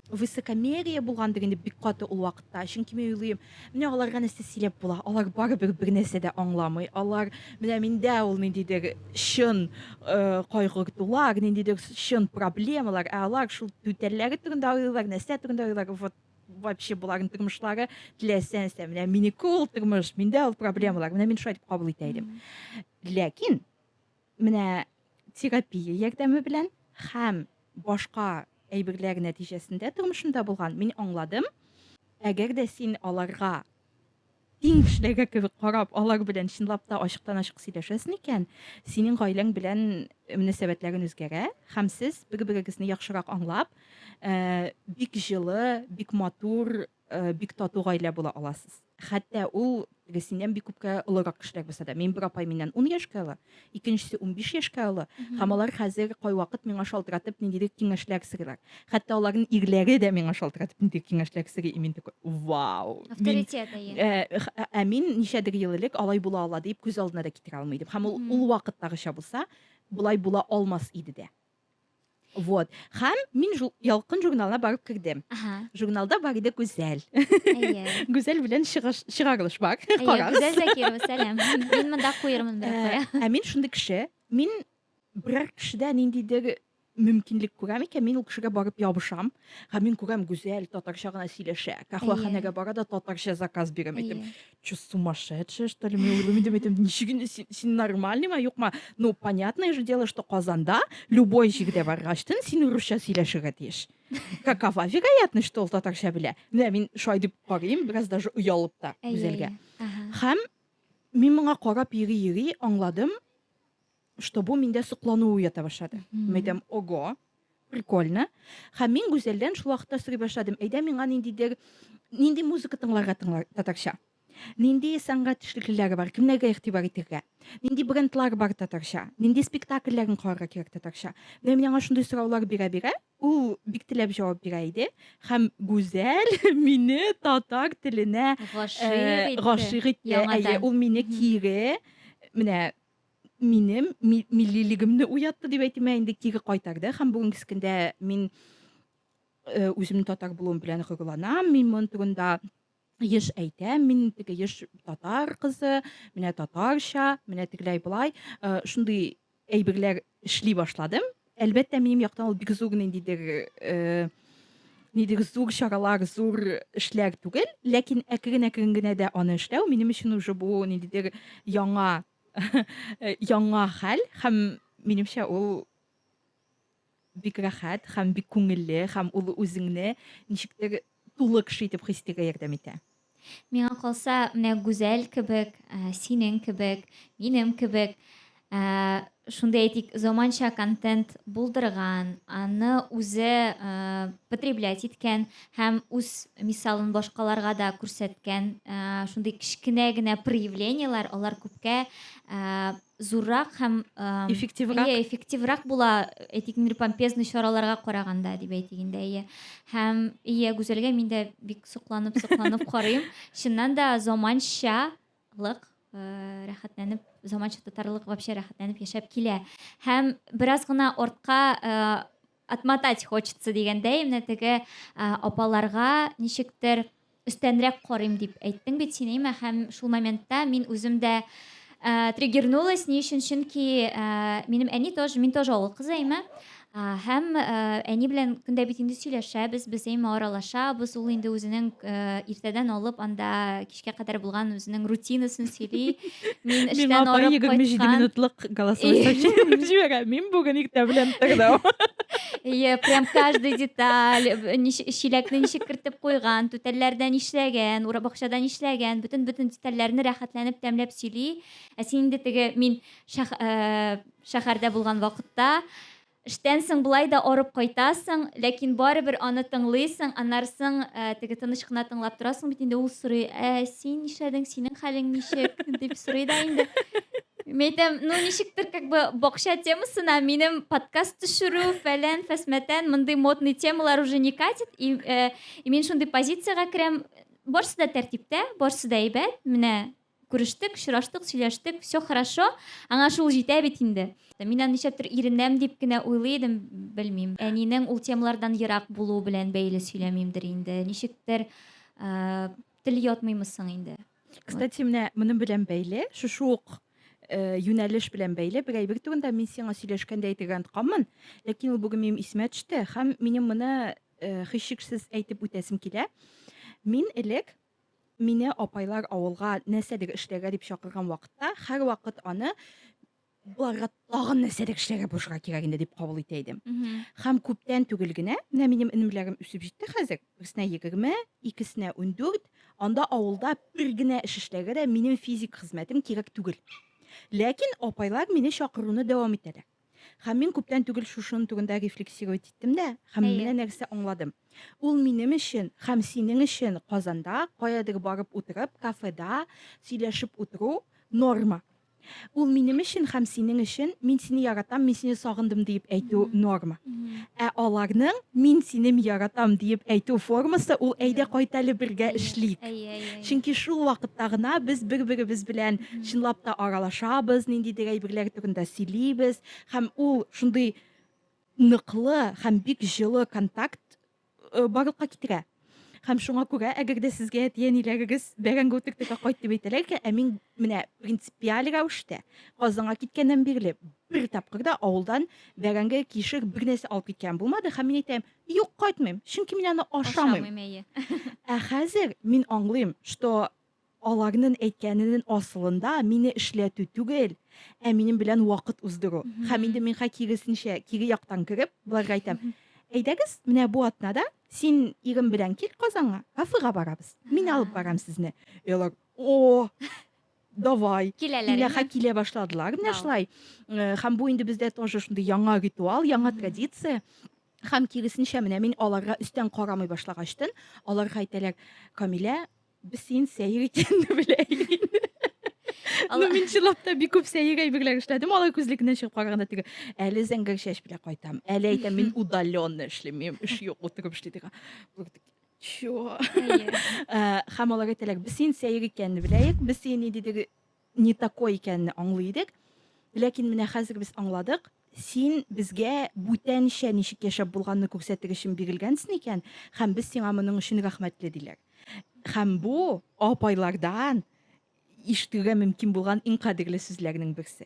высокомерие булгандыр инде бик каты ул вакытта чөнки мин уйлыйм менә аларга нәрсә сөйләп була алар барыбер бер нәрсә дә аңламый алар менә миндә ул ниндидер чын э, кайгыртулар ниндидер чын проблемалар ә алар шул түтәлләре турында уйлыйлар нәрсә турында уйлыйлар вот вообще боларның тормышлары теләсә нәрсә менә минеке ул тормыш миндә ул проблемалар менә мин шулай итеп кабул итә идем ләкин менә терапия ярдәме белән һәм башка әйберләр нәтиҗәсендә тормышымда булган мин аңладым әгәр дә син аларга Иң кешеләргә кебек карап, алар белән чынлап та ачыктан-ачык сөйләшәсең икән, синең гаиләң белән мөнәсәбәтләрең үзгәрә һәм сез бер-берегезне яхшырак аңлап, бик җылы, бик матур, бик тату гаилә була аласыз. Хәтта ул, теге синнән бик күпкә олырак кешеләр булса да. Минем бер апай миннән ун яшькә олы. икенчесе унбиш яшькә олы һәм алар хәзер кайвакыт миңа шалтыратып ниндидер киңәшләр сорыйлар хәтта аларның ирләре дә миңа шалтыратып ниндидер киңәшләр сорый и мин такой вау авторитет ә мин ничәдер ел элек алай була ала дип күз алдына да китерә алмый идем һәм ул ул вакыттагыча булса болай була алмас иде дә Вот. Һәм мин жу ялкын журналына барып кердем. Ага. Журналда бар иде Гүзәл. Әйе. Гүзәл белән чыгыш чыгарылыш бар. Әйе, Карагыз. Гүзәл Закирова, сәлам. Мин монда куермын бер Ә, куя. Ә мин шундый кеше, мин берәр кешедә ниндидер мөмкинлек күрәм икән, мин ул кешегә барып ябышам. Һәм мин күрәм Гүзәл татарча гына сөйләшә. Кахваханәгә бара да татарча заказ бирәм әйтем. Әйе. что, сумасшедшая, что ли? Мен ойлаймын, мен айтамын, нешеге сен, сен нормальный ма, юк ма? Ну, понятное же дело, что Казанда любой җирдә баргач, тен син урысча сөйләшергә тиеш. Какова вероятность, что ул татарча белә? Менә мин шулай дип карыйм, бераз даже оялып та үзәлгә. Һәм мин моңа карап йөри-йөри аңладым, что бу миндә соклану уята башлады мин әйтәм ого прикольно һәм мин гүзәлдән шул вакытта сорый башладым әйдә миңа ниндидер нинди музыка тыңларга тыңлар татарча нинди сәнгать эшлеклеләре бар кемнәргә игътибар итәргә нинди брендлар бар татарча нинди спектакльләрен карарга кирәк татарча менә мин аңа шундый сораулар бирә бирә ул бик теләп җавап бирә иде һәм гүзәл мине татар теленә гашыйк итте ул мине кире менә минем ми миллилегемне уятты дип әйтим, ә инде кире кайтарды һәм бүгенге көндә мин э, үземнең татар булуым белән горурланам, мин моның турында еш әйтәм, мин теге еш татар кызы, менә татарча, менә тегеләй болай, э, шундый әйберләр эшли башладым. Әлбәттә, минем яктан ул бик зур ниндидер э, нидер зур чаралар, зур эшләр түгел, ләкин әкрен-әкрен генә дә аны эшләү минем өчен уже бу ниндидер яңа Э, яңа хәл һәм минемчә ул бик рәхәт һәм бик күңелле һәм ул үзеңне ничектер тулы кеше итеп хис итәргә ярдәм итә миңа калса менә гүзәл кебек ә, синең кебек минем кебек ә, шундый әйтик заманча контент булдырган аны үзе ә, потреблять иткән һәм үз мисалын башкаларга да күрсәткән шундый кечкенә генә проявлениеләр алар күпкә зуррак һәм эффективрак иә эффективрак була әйтик мир помпезный чараларга караганда дип әйтик инде иә һәм иә гүзәлгә мин дә бик сокланып сокланып карыйм чыннан да заманчалык рәхәтләнеп заманча татарлык вообще рәхәтләнеп яшәп килә һәм бераз гына артка Отмотать хочется дигәндәй, менә теге апаларга ничектер өстәнрәк карыйм дип әйттең бит син, әйме, һәм шул моментта мин үзем дә э, триггернулась, ни өчен, чөнки э, минем әни тоже, мин тоже авыл кызы, әйме, һәм э, әни белән көндә бит инде сөйләшәбез, без әйме аралашабыз, ул инде үзенең э, иртәдән алып анда кичкә кадәр булган үзенең рутинасын сөйли. Мин эштән арып кайткан. 27 минутлык голосовой сообщение җибәрә. Мин бүген иртә белән тордым. Ие, прям каждый деталь, чиләкне ничек кертеп куйган, түтәлләрдә нишләгән, бакчада нишләгән, бөтен бөтен детальләрне рәхәтләнеп тәмләп сөйли. Ә син инде теге мин шәһәрдә булган вакытта Эштән соң болай да арып кайтасың, ләкин барыбер аны тыңлыйсың, аннарсың теге тыныч кына тыңлап торасың бит инде, ул сорый, ә син нишләдең, синең хәлең ничек, дип сорый да инде. Мин әйтәм, ну ничектер как бы бакча темасына минем подкаст төшерү, фәлән, фәсмәтән, мондый модный темалар уже не катит, и, э, и мин шундый позициягә керәм, барысы да тәртиптә, барысы да әйбәт, менә Күрештек, очраштык, сөйләштек, все хорошо, аңа шул җитә бит инде. Мин аны нишләптер иренәм дип кенә уйлый идем, белмим. Әнинең ул темалардан ерак булуы белән бәйле сөйләмимдер инде. Ничектер тел ятмыймы соң инде. Кстати, менә моның белән бәйле, шушы ук э, юнәлеш белән бәйле бер әйбер турында мин сиңа сөйләшкәндә әйтергә онытканмын, ләкин ул бүген минем исемә төште һәм минем моны э, һичшиксез әйтеп үтәсем килә. Мин элек Мине апайлар авылга нәрсәдер эшләргә дип чакырган вакытта, һәрвакыт аны боларга тагын нәрсәдер эшләргә булышырга кирәк инде дип кабул итә идем. Һәм күптән түгел генә, менә минем энемләрем үсеп җитте хәзер, берсенә егерме, икесенә ундүрт, анда авылда бер генә эш эшләргә дә минем физик хезмәтем кирәк түгел. Ләкин апайлар мине чакыруны дәвам итәләр. Һәм мин күптән түгел шушының түгендә рефлексировать иттем дә, һәм менә нәрсә аңладым. Ул минем өчен һәм синең өчен Казанда каядыр барып утырып, кафеда сөйләшеп утыру норма. Ул минем өчен һәм синең өчен мин сине яратам, мин сине сагындым дип әйтү норма. Ә аларның Мин синем яратам диеп әйтү формасы ул Әйдә кайт әле бергә эшлик. Чөнки шул вакытта гына без бер-беребез белән чынлап та аралашабыз, ниндидер әйберләр турында сөйлибез һәм ул шундый ныклы һәм бик җылы контакт барлыкка китерә. Һәм шуңа күрә, әгәр дә сезгә әти-әниләрегез бәрәңге утыртырга кайт дип әйтәләргә, ә мин менә принципиаль рәвештә Казанга киткәннән бирле бер тапкыр да авылдан бәрәңге, кишер бер нәрсә алып киткән булмады һәм мин әйтәм, юк, кайтмыйм, чөнки мин аны ашамыйм. Ашамыйм, әйе. Ә хәзер мин аңлыйм, что Аларнын әйткәненен асылында мине эшләтү түгел, ә минем белән вакыт уздыру. Хәм инде минга киресенчә, кире яктан кереп, боларга әйтәм, Әйдәгез, менә бу атнада син ирең белән кил Казанга, кафега барабыз. Мин алып барам сезне. И алар, О! Давай! Киләләр инде. Иләха килә башладылар менә шулай. Хәм бу инде бездә тоже шундый яңа ритуал, яңа традиция. Хәм киресенчә, менә мин аларга өстән карамый башлагачтын, аларга әйтәләр, Камилә, Без син сәер икәнне беләйек инде. Ну, мин чынлапта бик күп сәер әйберләр эшләдем алай күзлекнен чыгып караганда теге әле зәңгәр чәч белән кайтам әле әйтәм мин удаленно эшлим минем эш юк утырып эшли диген чё һәм алар әйтәләр без син сәер икәнне беләйек без сине нидедер не такой икәнне аңлый идек. Ләкин менә хәзер без аңладык, син безгә бүтәнчә ничек яшәп булганны күрсәтер өчен бирелгәнсен икән, һәм без сиңа моның өчен рәхмәтле, диләр. Һәм бу апайлардан ишетергә мөмкин булган иң кадерле сүзләрнең берсе.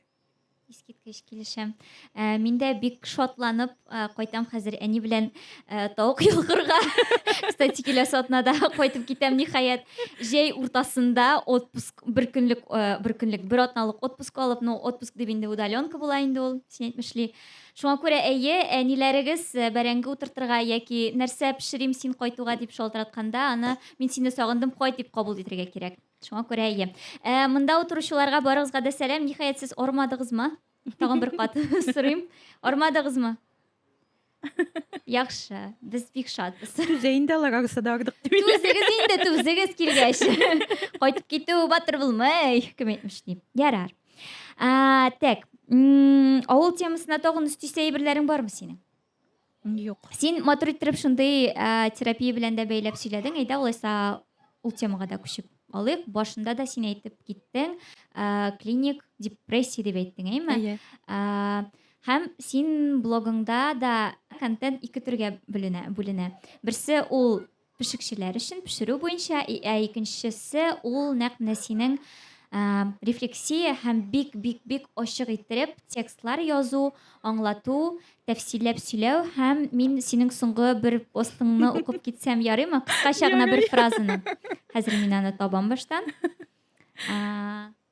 Искиткеч килешәм. Ә, мин дә бик шатланып ә, кайтам хәзер әни белән ә, тавык йолкырга. Кстати, киләсе атнада кайтып китәм ниһаять. Җәй уртасында отпуск бер көнлек ә, бер көнлек бер атналык отпуск алып, ну отпуск дип инде удаленка була инде ул, син әйтмешли. Шуңа күрә әйе, әниләрегез ә, бәрәңге утыртырга яки нәрсә пешерим син кайтуга дип шалтыратканда, аны мин сине сагындым, кайт дип кабул итәргә кирәк. Шуңа күрә әйе. Ә, монда утыручыларга барыгызга да сәлам. Ниһаять, сез ормадыгызмы? Тагын бер кат сорыйм. Ормадыгызмы? Яхшы, без бик шатбыз. Түзә инде алар арасы да ардык дип. Түзегез инде, түзегез килгәч. Кайтып китү батыр булмый, кем әйтмеш дип. Ярар. Ә, так, авыл темасына тагын өстисе әйберләрең бармы синең? Юк. Син матур иттереп шундый ә, терапия белән дә бәйләп сөйләдең. Әйдә, алайса ул темага да күчеп алыйк. Башында да син әйтеп киттең, ә, клиник депрессия дип әйттең, әйме? Әйе. Ә, һәм син блогыңда да контент ике төргә бүленә. бүленә. Берсе ул Пешекчеләр өчен пешерү буенча, ә икенчесе ул нәкъ менә синең рефлексия һәм бик-бик-бик ачык иттереп текстлар язу, аңлату, тәфсилләп сөйләү һәм мин синең соңгы бер постыңны укып китсәм ярыймы? Кыскача гына бер фразаны. Хәзер мин аны табам баштан.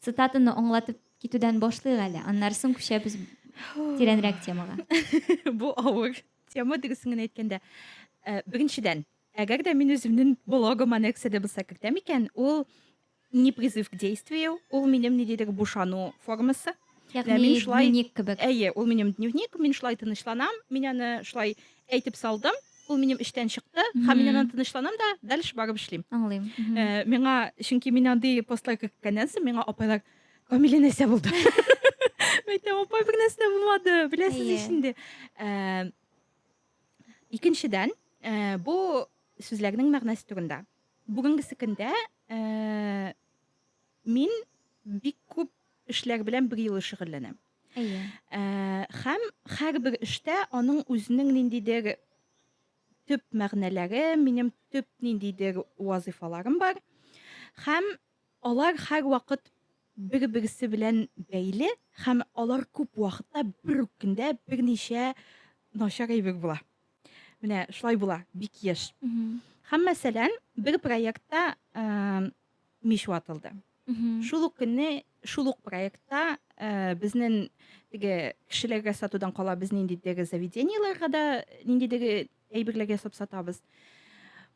Цитатаны аңлатып китүдән башлыйк әле, аннары соң күчәбез тирәнрәк темага. Бу авыр тема дөресен генә әйткәндә. Э, беренчедән, әгәр дә мин үземнең блогыма нәрсә дә булса кертәм икән, ул не призыв к действию, ул минем ниндидер бушану формасы. Ягъни Менә мин шулай- дневник кебек. Әйе, ул минем дневник, мин шулай тынычланам, мин аны шулай әйтеп салдым, ул минем эчтән чыкты, һәм мин Мгм. аннан тынычланам да, дальше барып эшлим. Аңлыйм. Мгм. Э, Миңа, чөнки мин андый постлар керткәннән соң, миңа апайлар, Камилә нәрсә булды? Мин әйтәм, апай, бер нәрсә дә булмады, беләсез Әйе. ич инде. Э, Икенчедән, э, бу сүзләрнең мәгънәсе турында. Бүгенгесе көндә э, Мин бик күп эшләр белән бер юлы шөгыльләнәм. Әйе. Ә, һәм һәрбер эштә аның үзенең ниндидер төп мәгънәләре, минем төп ниндидер вазифаларым бар. Һәм алар һәр вакыт бер-берсе белән бәйле һәм алар күп вакытта бер үк көндә берничә начар әйбер була. Менә шулай була, бик еш. Һәм мәсәлән, бер проектта мич ватылды. Шул ук көнне, шул ук проектта э, безнең теге кешеләргә сатудан кала без ниндидәге заведениеларга да ниндидәге әйберләр ясап сатабыз.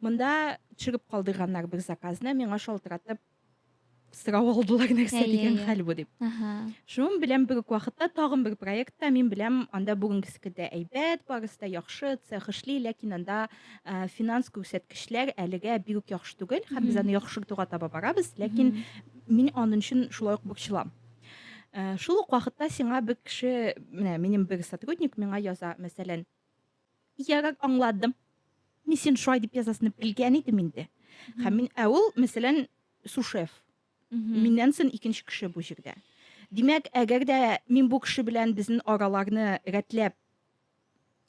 Монда төшереп калдырганнар бер заказны, миңа шалтыратып сорау алдылар нәрсә дигән хәл бу дип. Шуның белән бер үк вакытта тагын бер проектта мин беләм, анда бүгенгесе дә әйбәт, барысы да яхшы, цех эшли, ләкин анда Ә, финанс күрсәткечләр әлегә бик үк яхшы түгел һәм без аны яхшыртуга таба барабыз ләкин мин аның өчен шулай ук борчылам ә, шул ук вакытта сиңа бер кеше менә минем бер сотрудник миңа яза мәсәлән ярар аңладым мин син шулай дип язасыңны белгән идем инде һәм мин ә ул мәсәлән сушеф миннән соң икенче кеше бу җирдә димәк әгәр дә мин бу кеше белән безнең араларны рәтләп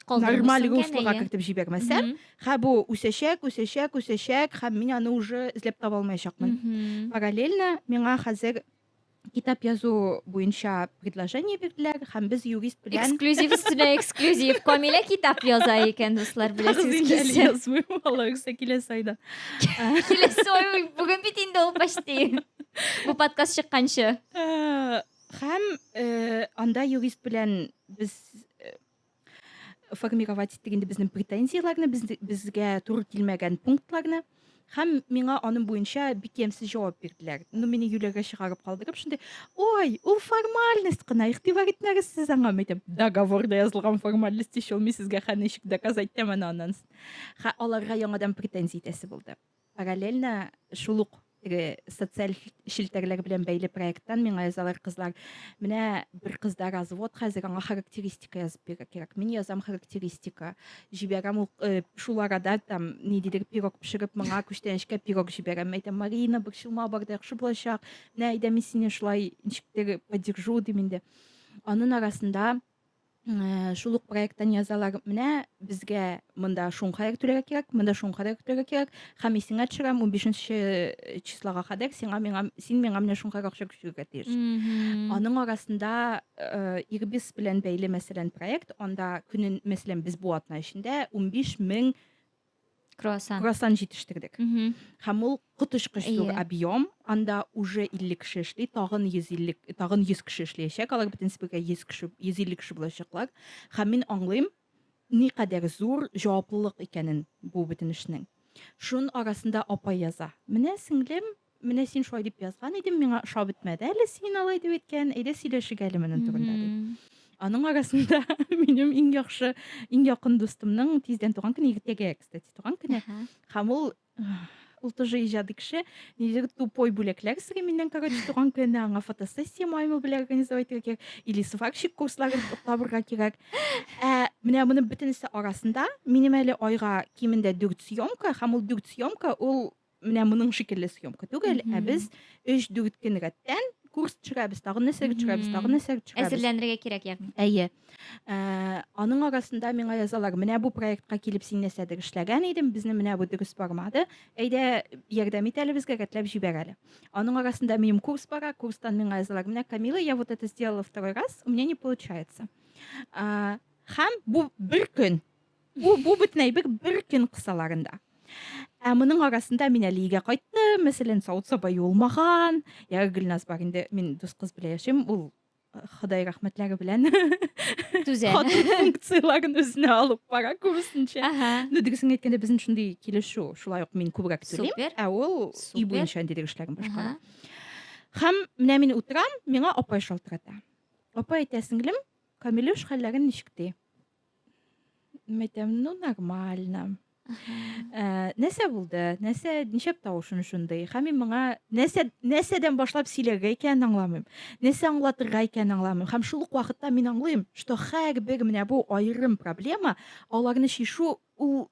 нормаль руслога кертеп җибәрмәсәм хә бу үсәчәк үсәчәк үсәчәк һәм мин аны уже эзләп таба алмаячакмын параллельно миңа хәзер китап язу буенча предложение бирделәр һәм без юрист белән эксклюзив өстенә эксклюзив камилә китап яза икән дуслар беләсез язмый алла рөхсәт киләсе айда киләсе ай бүген бит инде ул почти бу подкаст чыкканчы Һәм анда юрист белән без формировать иттек инде безнең претензияләрне, безгә туры килмәгән пунктларны. Һәм миңа аның буенча бик ямьсез җавап бирделәр. Ну, мине юләргә чыгарып калдырып, шундый, ой, ул формальность кына, игътибар итмәгез сез аңа, мәйтәм, договорда язылган формальность ишел, мин сезгә хәничек доказать итәм аны аннан. Ха, аларга яңадан претензия итәсе булды. Параллельно шул ук теге социаль челтәрләр белән бәйле проекттан миңа язалар кызлар. Менә бер кызда развод хәзер, аңа характеристика язып бирә кирәк. Мин язам характеристика. Җибәрәм ул э, шул арада там ниндидер пирог пешереп, моңа күчтәнәчкә пирог җибәрәм. Әйтәм, Марина, борчылма, бар да яхшы булачак. Менә әйдә мин сине шулай ничектер поддержу дим инде. Анын арасында Э, шул ук проекттан язалар менә безгә монда шуңка йөртергә кирәк монда шуңка йөртергә кирәк һәм исеңә төшерәм унбишенче э, числога кадәр сиңа миңа син миңа менә шуңка акча күчерергә тиеш аның арасында э, ирбис белән бәйле мәсәлән проект анда көнен мәсәлән без бу атна эчендә унбиш мең круассан круассан җитештердек һәм ул коточкыч зур объем анда уже илле кеше эшли тагын йөз илле тагын йөз кеше эшләячәк алар бөтен бергә йөз кеше йөз илле кеше булачаклар һәм мин аңлыйм никадәр зур җаваплылык икәнен бу бөтен эшнең шун арасында апа яза менә сеңлем Менә син шулай дип язган идең, миңа ошап бетмәде әле син алай дип әйткән, әйдә сөйләшик әле моның турында ди. Аның арасында минем иң яхшы, иң якын дустымның тиздән туган көне, иртәгә, кстати, туган көне. Һәм ул ул тоже иҗади кеше нидер тупой бүләкләр сыйрый миннән короче туган көне аңа фотосессия маймыл белән организовать итәргә кирәк или сварщик курсларын табырга кирәк ә менә моны бөтенесе арасында минем әле айга кимендә дүрт съемка һәм ул дүрт съемка ул Менә моның шикелле съемка түгел, ә без 3-4 көн рәттән курс төшерәбез, тагын нәрсәгә төшерәбез, тагын нәрсәгә төшерәбез. Әзерләнергә кирәк ягъни. Әйе. Ә, аның арасында миңа язалар, менә бу проектка килеп син нәрсәдер эшләгән идең, безне менә бу дөрес бармады. Әйдә, ярдәм ит әле безгә, рәтләп җибәр әле. Аның арасында минем курс бара, курстан миңа язалар, менә Камила, я вот это сделала второй раз, у меня не получается. Ә, һәм бу бер көн Бу бу бөтен әйбер бер көн кысаларында. Ә моның арасында мин әле өйгә кайттым, мәсәлән, савыт саба юылмаган. Я Гөлназ бар инде, мин дус кыз белән яшим, ул э, Ходай рәхмәтләре белән түзә. Хатын функцияләрен үзенә алып бара күбесенчә. Ага. Ну, дөресен әйткәндә, безнең шундый килешү, шулай ук мин күбрәк түлим, Супер. ә ул Супер. өй буенча ниндидер эшләрен башкара. Ага. Һәм менә мин утырам, миңа апай шалтырата. Апай әйтә, сеңлем, Камилюш хәлләрен ничек ди? Мәйтәм, ну, нормально. Э, Нәсә булды? Нәсә ничек тавышын шундый? Хәм мин моңа нәсә нәсәдән башлап сөйләргә икәнен аңламыйм. Нәсә аңлатырга икәнен аңламыйм. Хәм шул ук вакытта мин аңлыйм, что һәрбер менә бу аерым проблема, аларны чишу ул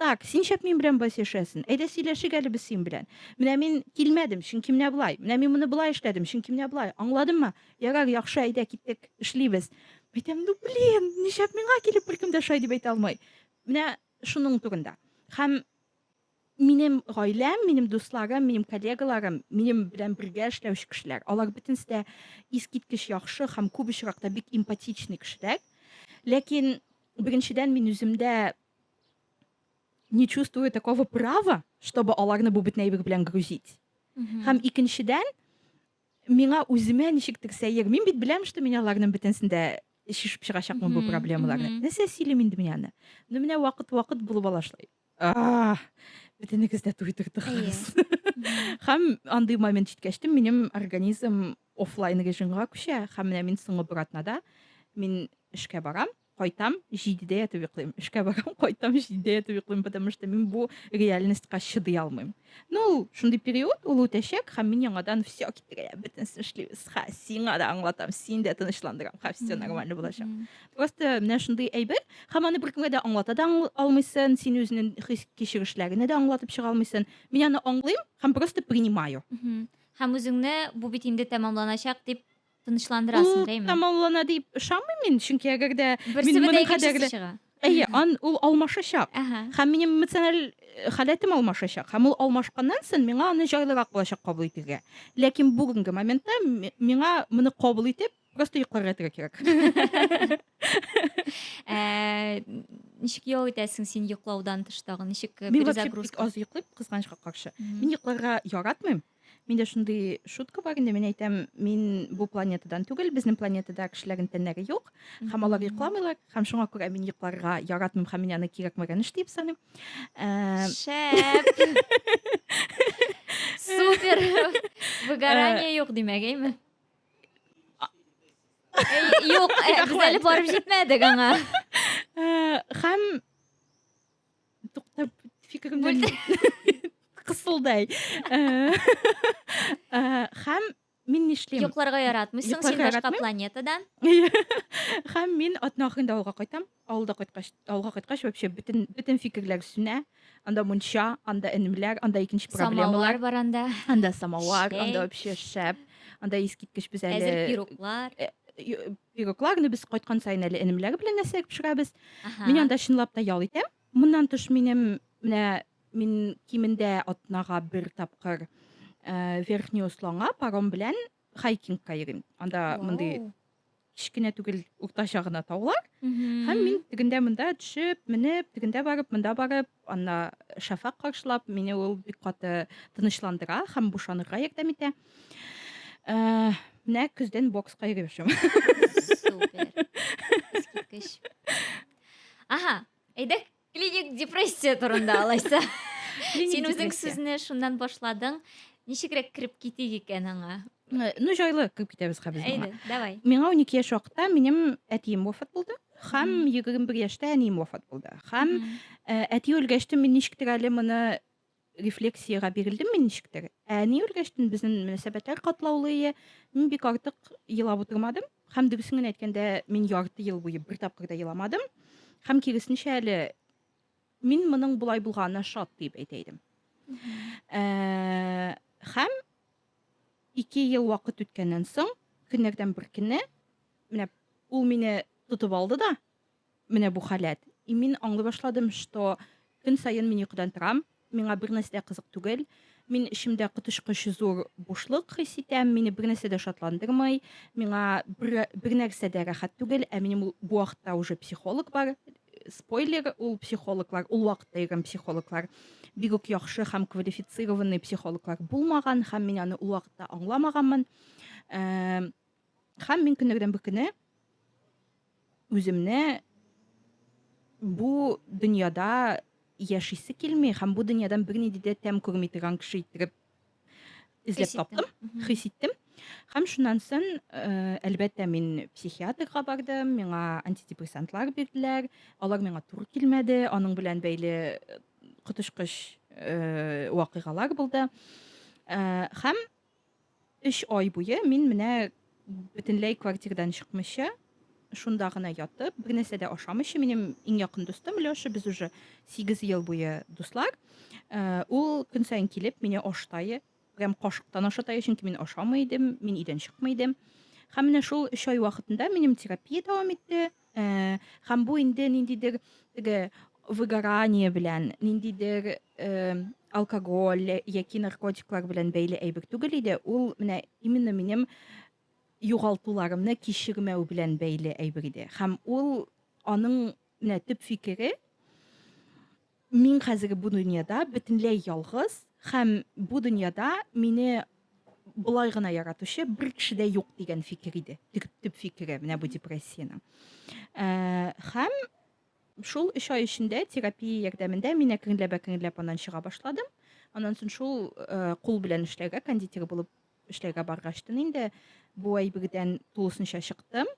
Так, син шәп мин белән болай сөйләшәсен. Әйдә сөйләшик әле без син белән. Менә мин килмәдем, чөнки менә болай. Менә мин моны болай эшләдем, чөнки менә болай. Аңладыңмы? Ярар, яхшы, әйдә киттек, эшлибез. Әйтәм, ну блин, нишләп миңа килеп беркем дә шулай дип әйтә алмый. Менә шуның турында. Һәм минем гаиләм, минем дусларым, минем коллегаларым, минем белән бергә эшләүче кешеләр, алар бөтенесе дә искиткеч яхшы һәм күп очракта бик эмпатичный кешеләр. Ләкин беренчедән мин үземдә не чувствую такого права, чтобы аларны бу бетнәйбек белән грузить. Һәм икенчедән, миңа үземә ничектер сәер. Мин бит беләм, что мин аларның бөтенсен дә шешеп чыгачакмын бу проблемаларны. Нәрсә сөйлим инде мин аны? Ну менә вакыт-вакыт булып ала шулай. А! Бөтенегез дә туйдырдыгыз. Һәм андый момент җиткәч, минем организм офлайн режимга күчә. Һәм менә мин соңгы братнада мин эшкә барам. кайтам, җидедә ятып йоклыйм. Эшкә барам, кайтам, җидедә ятып йоклыйм, потому что мин бу реальностька чыдый алмыйм. Ну, ул шундый период, ул үтәчәк, һәм мин яңадан все китерә, бөтенесен эшлибез. Ха, сиңа да аңлатам, син дә тынычландырам, ха, все нормально булачак. Просто менә шундый әйбер, һәм аны беркемгә дә аңлата да алмыйсын, син үзенең хис кичерешләренә дә аңлатып чыга алмыйсын. Мин аны аңлыйм һәм просто принимаю. Һәм үзеңне бу бит инде тәмамланачак дип Тынычландырасың, Ул дәйме? тамамлана дип ышанмыйм мин, чөнки әгәр дә Берсе мин беде моның икенчесе кадәрле чыга. Әйе, ан ул алмашачак. Әһә. Һәм минем эмоциональ э, халәтем алмашачак. Һәм ул алмашканнан соң миңа аны җайлырак булачак кабул итергә. Ләкин бүгенге моментта ми- миңа моны кабул итеп, просто йокларга ятырга кирәк. Ә, Ничек ял итәсең син йоклаудан тыш тагын? Ничек э, Мин вообще бик перезагрузка? аз йоклыйм, кызганычка каршы. Мгм. Мин йокларга яратмыйм. Миндә шундый шутка бар инде, мин әйтәм, мин бу планетадан түгел, безнең планетада кешеләрнең тәннәре юк, һәм алар йокламыйлар, һәм шуңа күрә мин йокларга яратмыйм һәм мин аны кирәкмәгән эш дип саныйм. Ә... Шәп! Супер! Выгорание э, юк димәк, әйме? Юк, э, без әле барып җитмәдек аңа. Э, һәм Туктап фикеремне кысылдай. Э, э, һәм мин нишлим? Йокларга яратмыйсың, син башка планетада. Һәм мин атна ахырында авылга кайтам. Авылда кайткач, авылга кайткач вообще бөтен бөтен фикерләр сүнә. Анда мунча, анда энемләр, анда икенче проблемалар. Самовар бар анда. Анда самовар, анда вообще шәп. Анда искиткеч без әле. Әзер пироклар. Э, Пирогларны без кайткан саен әле энемләр белән әсәр пешерәбез. Мин анда чынлап та ял итәм. Моннан тыш минем менә мин кимендә атнага бер тапкыр э, Верхний Усланга паром белән хайкингка йөрим. Анда мондый кечкенә түгел, уртача гына таулар. Һәм мин тегендә монда төшеп, менеп, тегендә барып, монда барып, анда шәфәк каршылап, мине ул бик каты тынычландыра һәм бушанырга ярдәм итә. Ә, менә көздән бокска йөреп яшәм. Супер. Искиткеч. Аһа, әйдәк клиник депрессия турында алайса. Син үзең сүзне шуннан башладың. Ничегрәк кереп китик икән аңа? Э, ну, җайлы кереп китәбез хәзер. Әйдә, давай. Миңа 12 яшь вакытта минем әтием вафат булды. Хәм 21 яшьтә әнием вафат булды. Хәм э, әти үлгәч тә мин ничектер әле моны рефлексиягә бирелдем мин ничектер. Ә ни үргәчтен безнең мөнәсәбәтләр катлаулы ие. Мин бик артык елап утырмадым. Хәм дөресен генә әйткәндә, мин ярты ел буе бер тапкыр да еламадым. Хәм киресенчә әле мин моның болай булганына шат дип әйтә идем. Ә, хәм ике ел вакыт үткәннән соң, көннәрдән бер көнне, менә ул мине тотып алды да, Менә бу халәт. И мин аңлый башладым, что көн саен мин йокыдан торам, миңа бернәрсә дә кызык түгел, мин эчемдә коточкыч зур бушлык хис итәм, мине бернәрсә дә шатландырмый, миңа бер бернәрсә дә рәхәт түгел, ә минем ул бу вакытта уже психолог бар, спойлер, ул психологлар, ул вакытта йөргән психологлар бик үк яхшы һәм квалифицированный психологлар булмаган һәм мин аны ул вакытта аңламаганмын. Ә. Хәм мин көннәрдән бер көне үземне бу дөньяда яшисе килми һәм бу дөньядан бернинди дә тәм күрми торган кеше иттереп эзләп таптым, хис иттем. Һәм шуннан соң, э, әлбәттә, мин психиатрга бардым, миңа антидепрессантлар бирделәр. Алар миңа туры килмәде, аның белән бәйле э, коточкыч э, вакыйгалар булды. Һәм Өч ай буе мин менә бөтенләй квартирдан чыкмыйча, шунда гына ятып, бернәрсә дә ашамыйча, минем иң якын дустым Лёша, без уже 8 ел буе дуслар. Э, ул көн саен килеп, мине аштайы, прям кашыктан ашатайы, чөнки мин ашамый идем, мин өйдән чыкмый идем. Һәм менә шул 3 ай вакытында минем терапия дәвам итте. Ә, һәм бу инде ниндидер теге выгорание белән, ниндидер э, алкоголь яки наркотиклар белән бәйле әйбер түгел иде. Ул менә именно минем югалтуларымны кичермәү белән бәйле әйбер иде. Һәм ул аның менә төп фикере Мин хәзерге бу дөньяда бөтенләй ялгыз һәм бу дөньяда мине болай гына яратучы бер кеше дә юк дигән фикер иде. Төп фикере менә бу депрессиянең. Э, һәм шул 3 ай эчендә терапия ярдәмендә мин әкренләп әкренләп аннан чыга башладым. Аннан соң шул э, кул белән эшләргә кондитер булып Эшләргә баргачтын инде бу әйбердән тулысынча чыктым.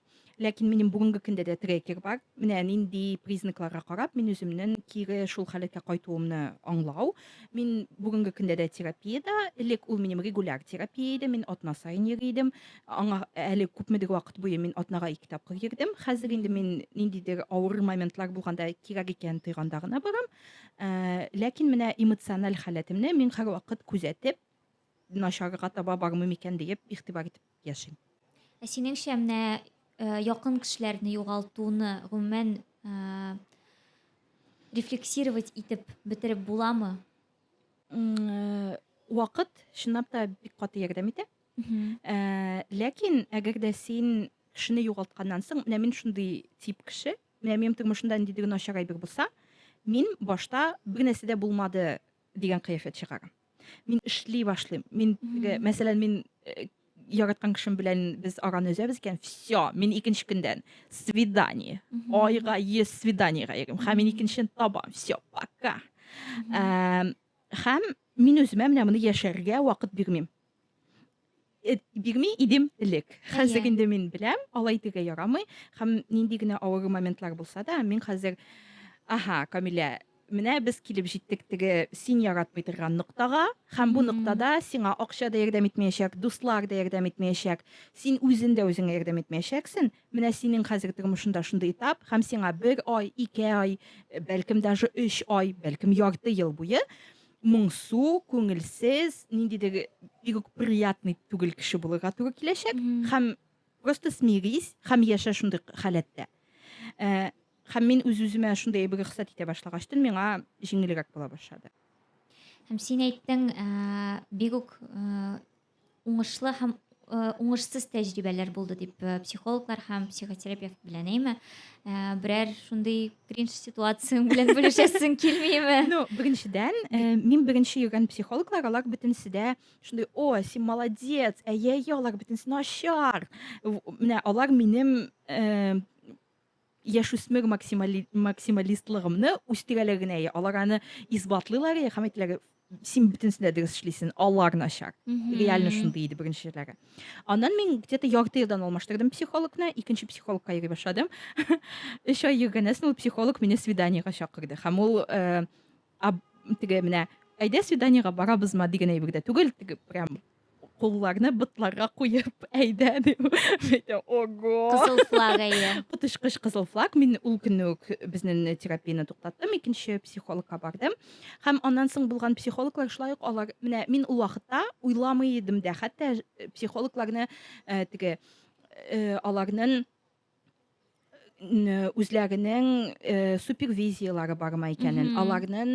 Ләкин минем бүгенге көндә дә трекер бар. Менә нинди признакларга карап мин үземнең кире шул халәткә кайтуымны аңлау. Мин бүгенге көндә дә терапиядә. Элек ул минем регуляр терапия иде. Мин атна саен йөри идем. Аңа әле күпмедер вакыт буе мин атнага ике тапкыр йөрдем. Хәзер инде мин ниндидер авыр моментлар булганда кирәк икән тойганда гына барам. Э, ләкин менә эмоциональ халәтемне мин һәрвакыт күзәтеп, Начарга таба бармый микән диеп игътибар итеп яшим. Ә синеңчә, менә якын кешеләрне югалтуны гомумән рефлексировать итеп бетереп буламы? Вакыт чынлап та бик каты ярдәм итә. Ләкин әгәр дә син кешене югалтканнан соң, менә мин шундый тип кеше, менә минем тормышымда ниндидер начар әйбер булса, мин башта бер нәрсә дә булмады дигән кыяфәт чыгар. Мин эшли башлыйм. Мин, мәсәлән, мин э, яраткан кешем белән без араны өзәбез икән все мин икенче көндән свидание айга ес свиданиега йөрим һәм мин икенчен табам все пока һәм мин үземә менә моны яшәргә вакыт бирмим Э, бирми идем элек хәзер инде мин беләм алай диге ярамый һәм нинди генә авыр моментлар булса да мин хәзер аха камилә менә без килеп җиттек теге син яратмый торган ноктага һәм бу ноктада сиңа акча да ярдәм итмәячәк дуслар да ярдәм итмәячәк син үзен дә үзеңә ярдәм итмәячәксең менә синең хәзер тормышында шундый этап һәм сиңа бер ай ике ай бәлкем даже өч ай бәлкем ярты ел буе моңсу, күңелсез, ниндидер бик үк приятный түгел кеше булырга туры киләчәк. Һәм просто смирись, һәм яшә шундый халәттә. Э, һәм мин үз-үземә шундый әйбер рөхсәт итә башлагачтын, миңа җиңелрәк була башлады. Һәм син әйттең, э, бик үк э, уңышлы һәм э, уңышсыз тәҗрибәләр булды дип э, психологлар һәм психотерапевт белән әйме э, берәр шундый кринж ситуацияң белән бүлешәсең килмиме ну беренчедән мин беренче йөргән психологлар алар бөтенесе дә шундый о син молодец әйе әйе алар бөтенесе начар менә алар минем яшүсмер максимали, максималистлыгымны үстерәләр генә я алар аны исбатлыйлар я һәм әйтәләр син бөтенесен дә дөрес эшлисең алар начар реально шундый иде беренчеләре аннан мин где то ярты елдан алмаштырдым психологны икенче психологка йөри башладым өч ай йөргәннән соң ул психолог мине свиданиега чакырды һәм ул э, теге менә әйдә свиданиега барабызма дигән әйбер дә түгел теге прям Кулларны ботларга куеп, әйдә дип. Әйтә, ого! Кызыл флаг әйе. Коточкыч кызыл флаг. Мин ул көнне үк безнең терапияне туктаттым, икенче психологка бардым. Һәм аннан соң булган психологлар шулай ук алар, менә мин ул вакытта уйламый идем дә, хәтта психологларны э, теге э, аларның үзләренең супервизияләре бармы икәнен, аларның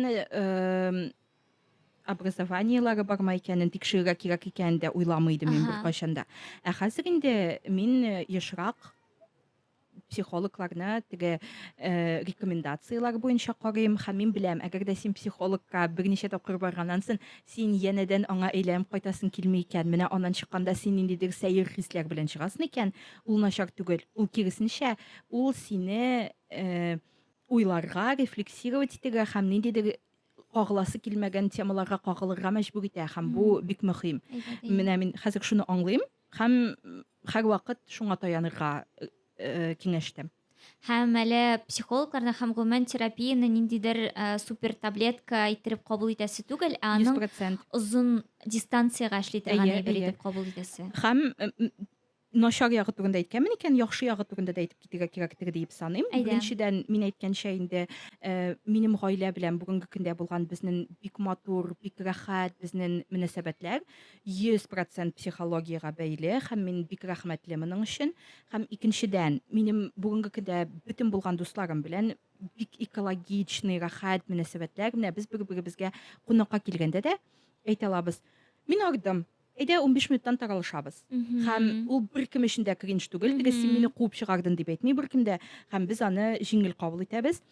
образованиеләре бармы икәнен тикшерергә кирәк икәнен дә уйламый идем мин беркайчан да. Ә хәзер инде мин ешрак психологларны теге э, рекомендацияләр буенча карыйм һәм мин беләм әгәр дә син психологка берничә тапкыр барганнан соң Син янәдән аңа әйләнеп кайтасың килми икән, менә аннан чыкканда син ниндидер сәер хисләр белән чыгасың икән, ул начар түгел, ул киресенчә, ул сине уйларга, рефлексировать итәргә һәм ниндидер кагыласы килмәгән темаларга кагылырга мәҗбүр итә һәм бу бик мөһим. Менә мин хәзер шуны аңлыйм һәм һәрвакыт шуңа таянырга киңәш итәм. һәм әле психологларны һәм гомумән терапияне ниндидер ә, супер таблетка иттереп кабул итәсе түгел, ә аның 100%. озын дистанциягә эшли торган Әйе, әйбер әйе. итеп кабул итәсе. Һәм м, м, начар ягы турында әйткәнмен икән, яхшы ягы турында да әйтеп китәргә кирәктер диеп саныйм. Әйдә. Беренчедән, мин әйткәнчә инде, э, минем гаилә белән бүгенге көндә булган безнең бик матур, бик рәхәт безнең мөнәсәбәтләр. Йөз процент психологиягә бәйле һәм мин бик рәхмәтле моның өчен. Һәм икенчедән, минем бүгенге көндә бөтен булган дусларым белән бик экологичный, рәхәт мөнәсәбәтләр. Менә без бер-беребезгә кунакка килгәндә дә әйтә алабыз. Мин ардым. Әйдә, унбиш минуттан таралышабыз. Һәм ул беркем өчен дә кринж түгел. Теге син мине куып чыгардың дип әйтми беркем дә. Һәм без аны җиңел кабул итәбез.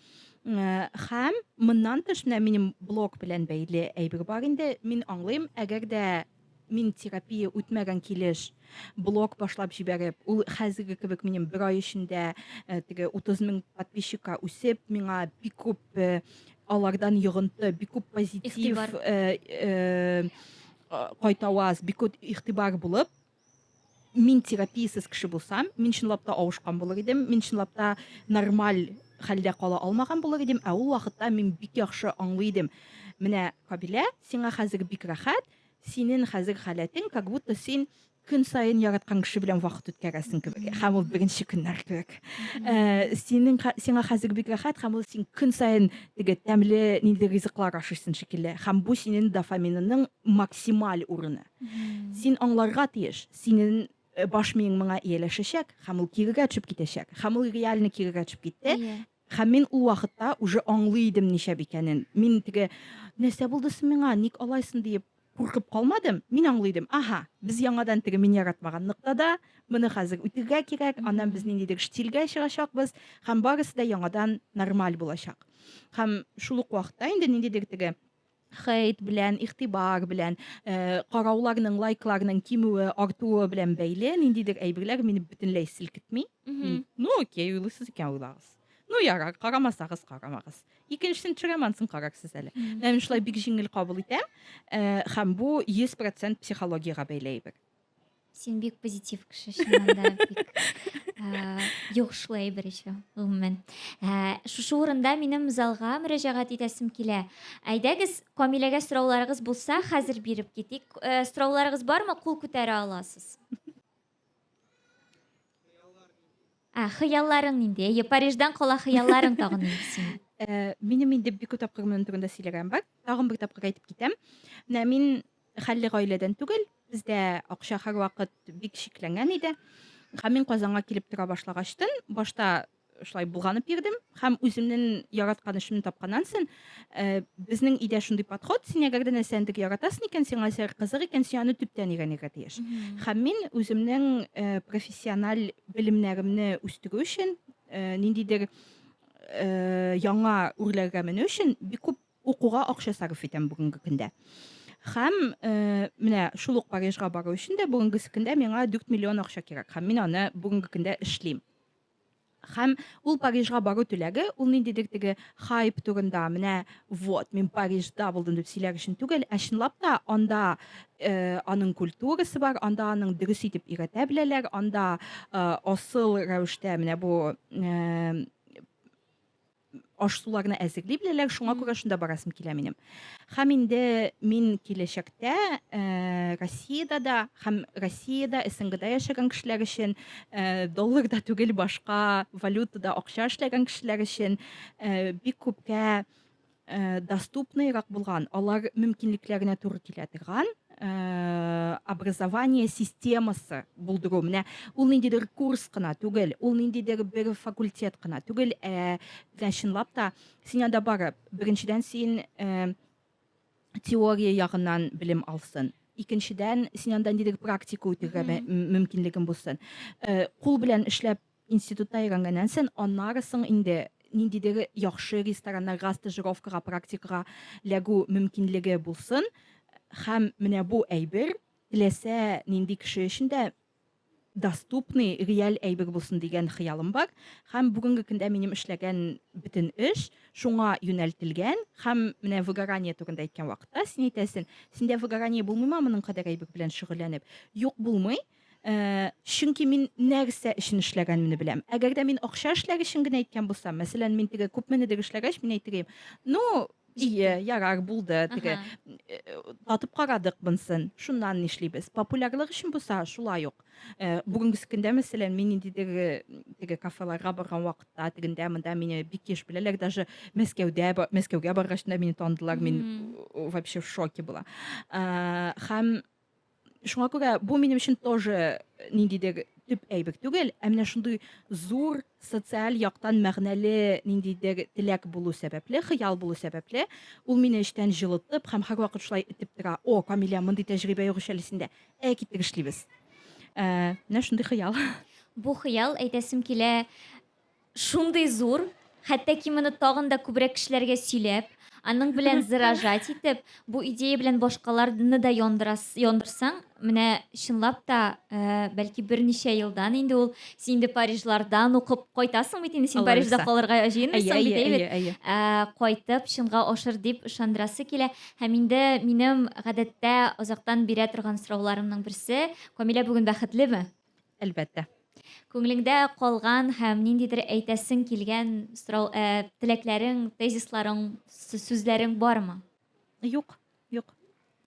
Хәм моннан тыш менә минем блог белән бәйле әйбер бар инде. Мин аңлыйм, әгәр дә мин терапия үтмәгән килеш блог башлап җибәреп, ул хәзерге кебек минем бер ай эчендә э, теге 30 мең подписчикка үсеп, миңа бик күп э, алардан йогынты, бик күп позитив, э, кайтаваз, бик күп игътибар булып, мин терапиясез кеше булсам, мин чынлап та авышкан булыр идем, мин чынлап та нормаль хәлдә кала алмаган булыр идем, ә ул вакытта мин бик яхшы аңлый идем. Менә Кабилә, сиңа хәзер бик рәхәт, синең хәзер халәтең, как будто син көн саен яраткан кеше белән вакыт үткәрәсең кебек һәм ул беренче көннәр кебек э, синең сиңа хәзер бик рәхәт һәм ул син көн саен теге тәмле нинди ризыклар ашыйсың шикелле һәм бу синең дофаминының максималь урыны Син аңларга тиеш, синең э, баш миең моңа ияләшәчәк һәм ул кирегә төшеп китәчәк. Һәм ул реально кирегә төшеп китте. Иә. Һәм мин ул вакытта уже аңлый идем ничә икәнен. Мин теге нәрсә булды соң миңа, ник алайсың диеп куркып калмадым. Мин аңлый идем. Аһа, без яңадан теге мин яратмаган ноктада, моны хәзер үтергә кирәк, аннан без ниндидер штилгә чыгачакбыз һәм барысы да яңадан нормаль булачак. Һәм шул ук вакытта инде ниндидер теге хейт белән, игътибар белән, э, карауларның, лайкларның кимүе, артуы белән бәйле ниндидер әйберләр мине бөтенләй селкетми. Мин, ну окей, уйлыйсыз икән уйлагыз. Ну ярар, карамасагыз карамагыз. Икенчесен төшерәмәнсен карарсыз әле. Менә мин шулай бик җиңел кабул итәм. Э, һәм бу 100% психологиягә бәйле әйбер. Син бик позитив кеше, чыннан да бик ә, йогышлы әйбер ичү, гомумән. Ә, шушы урында минем залга мөрәҗәгать итәсем килә. Әйдәгез, Камиләгә сорауларыгыз булса, хәзер биреп китик. Ә, сорауларыгыз бармы? Кул күтәрә аласыз. Ә, хыялларың нинди? Әйе, Париждан кала хыялларың тагын нинди синең? Э, минем инде бик күп тапкыр моның турында сөйләгәнем бар. Тагын бер тапкыр әйтеп китәм. Менә мин хәлле гаиләдән түгел, бездә акча һәрвакыт бик шикләнгән иде. Һәм мин Казанга килеп тора башлагачтын, башта шулай болганып йөрдем һәм үземнең яраткан эшемне тапканнан соң, Э, безнең өйдә шундый подход син әгәр дә нәрсәне бик яратасың икән сиңа нәрсә кызык икән син аны төптән өйрәнергә тиеш һәм мин үземнең э, профессиональ белемнәремне үстерү өчен э, ниндидер яңа үрләргә менү өчен бик күп укуга акча сарыф итәм бүгенге көндә һәм э, менә шул ук парижга бару өчен дә бүгенге көндә миңа дүрт миллион акча кирәк һәм мин аны бүгенге көндә эшлим Һәм ул Парижга бару теләге, ул ниндидер теге хайп турында, менә вот, мин Парижда булдым дип сөйләр өчен түгел, ә чынлап та анда э, аның культурасы бар, анда аның дөрес итеп өйрәтә беләләр, анда э, асыл рәвештә менә бу э, аш-суларны әзерли беләләр, шуңа күрә шунда барасым килә минем. Хәм инде мин киләчәктә э, Россиядә дә, хәм Россиядә, СНГда яшәгән кешеләр өчен э, долларда түгел башка валютада акча эшләгән кешеләр өчен э, бик күпкә э, доступныйрак булган, алар мөмкинлекләренә туры килә торган Э, образование системасы булдыру менә ул ниндидер курс кына түгел ул ниндидер бер факультет кына түгел ә менә чынлап та син анда барып беренчедән син э, теория ягыннан белем алсын икенчедән син анда ниндидер практика үтәргә мөмкинлегең булсын э, кул белән эшләп Институтта өйрәнгәннән сон, аннары соң инде ниндидер яхшы рестораннарга стажировкага, практикага ләгү мөмкинлеге булсын, һәм менә бу әйбер теләсә нинди кеше өчен дә доступный, реаль әйбер булсын дигән хыялым бар. Һәм бүгенге көндә минем эшләгән бөтен эш шуңа юнәлтелгән. Һәм менә выгорание турында әйткән вакытта син әйтәсен, синдә выгорание булмыймы моның кадәр әйбер белән шөгыльләнеп? Юк, булмый. Э, чөнки мин нәрсә өчен эшләгәнемне беләм. Әгәр дә мин акча эшләр өчен генә әйткән булсам, мәсәлән, мин теге күпменедер эшләгәч, мин әйтергә, ну, Ие, ярар, булды, теге э, татып карадык бынсын, шуннан нишлибез. Популярлык өчен булса, шулай ук. Э, бүгенге көндә, мәсәлән, мин ниндидер э, теге кафеларга барган вакытта, тегендә, монда мине бик еш беләләр, даже Мәскәүдә, Мәскәүгә баргач та мине таныдылар, мин вообще в шоке була. Һәм Шуңа күрә бу минем өчен тоже э, ниндидер төп әйбер түгел, ә менә шундый зур социаль яктан мәгънәле ниндидер теләк булу сәбәпле, хыял булу сәбәпле, ул мине эчтән җылытып һәм һәрвакыт шулай итеп тора. О, Камилә, мондый тәҗрибә юк әле синдә. Ә китек эшлибез. Ә, менә шундый хыял. Бу хыял әйтәсем килә, Шундый зур, хәтта ки моны тагын да күбрәк кешеләргә сөйләп, аның белән зыражать итеп, бу идея белән башкаларны да яндырас, яндырсаң, менә чынлап та, э, бәлки берничә елдан инде ул, син инде Парижлардан укып кайтасың бит инде, син Алла Парижда бирса. калырга Әйе, җыенмыйсың әйе, бит, әйе бит? әйе, әйе. Ә, кайтып, чынга ашыр дип ышандырасы килә. Һәм инде минем гадәттә озактан бирә торган сорауларымның берсе, Камилә бүген бәхетлеме? Әлбәттә. Күңелеңдә калган һәм ниндидер әйтәсең килгән сорау, ә, теләкләрең, тезисларың, сүзләрең бармы? Юк, юк.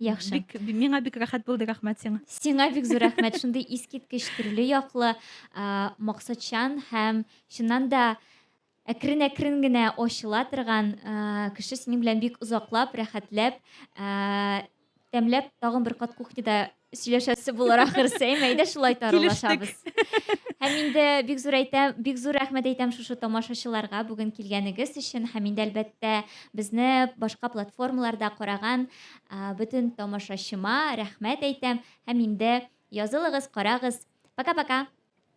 Яхшы. Бик, миңа бик рәхәт булды, рәхмәт сиңа. Сиңа бик зур рәхмәт. Шундый искиткеч төрле яклы, максатчан һәм чыннан да әкрен-әкрен генә ачыла торган кеше синең белән бик озаклап, рәхәтләп, тәмләп, тагын бер кат кухняда сөйләшәсе булыр ахырсы. Әйме, әйдә шулай таралашабыз. Һәм инде бик зур әйтәм, бик зур рәхмәт әйтәм шушы тамашачыларга бүген килгәнегез өчен һәм инде әлбәттә безне башка платформаларда караган бөтен тамашачыма рәхмәт әйтәм һәм инде язылыгыз, карагыз. Пока-пока.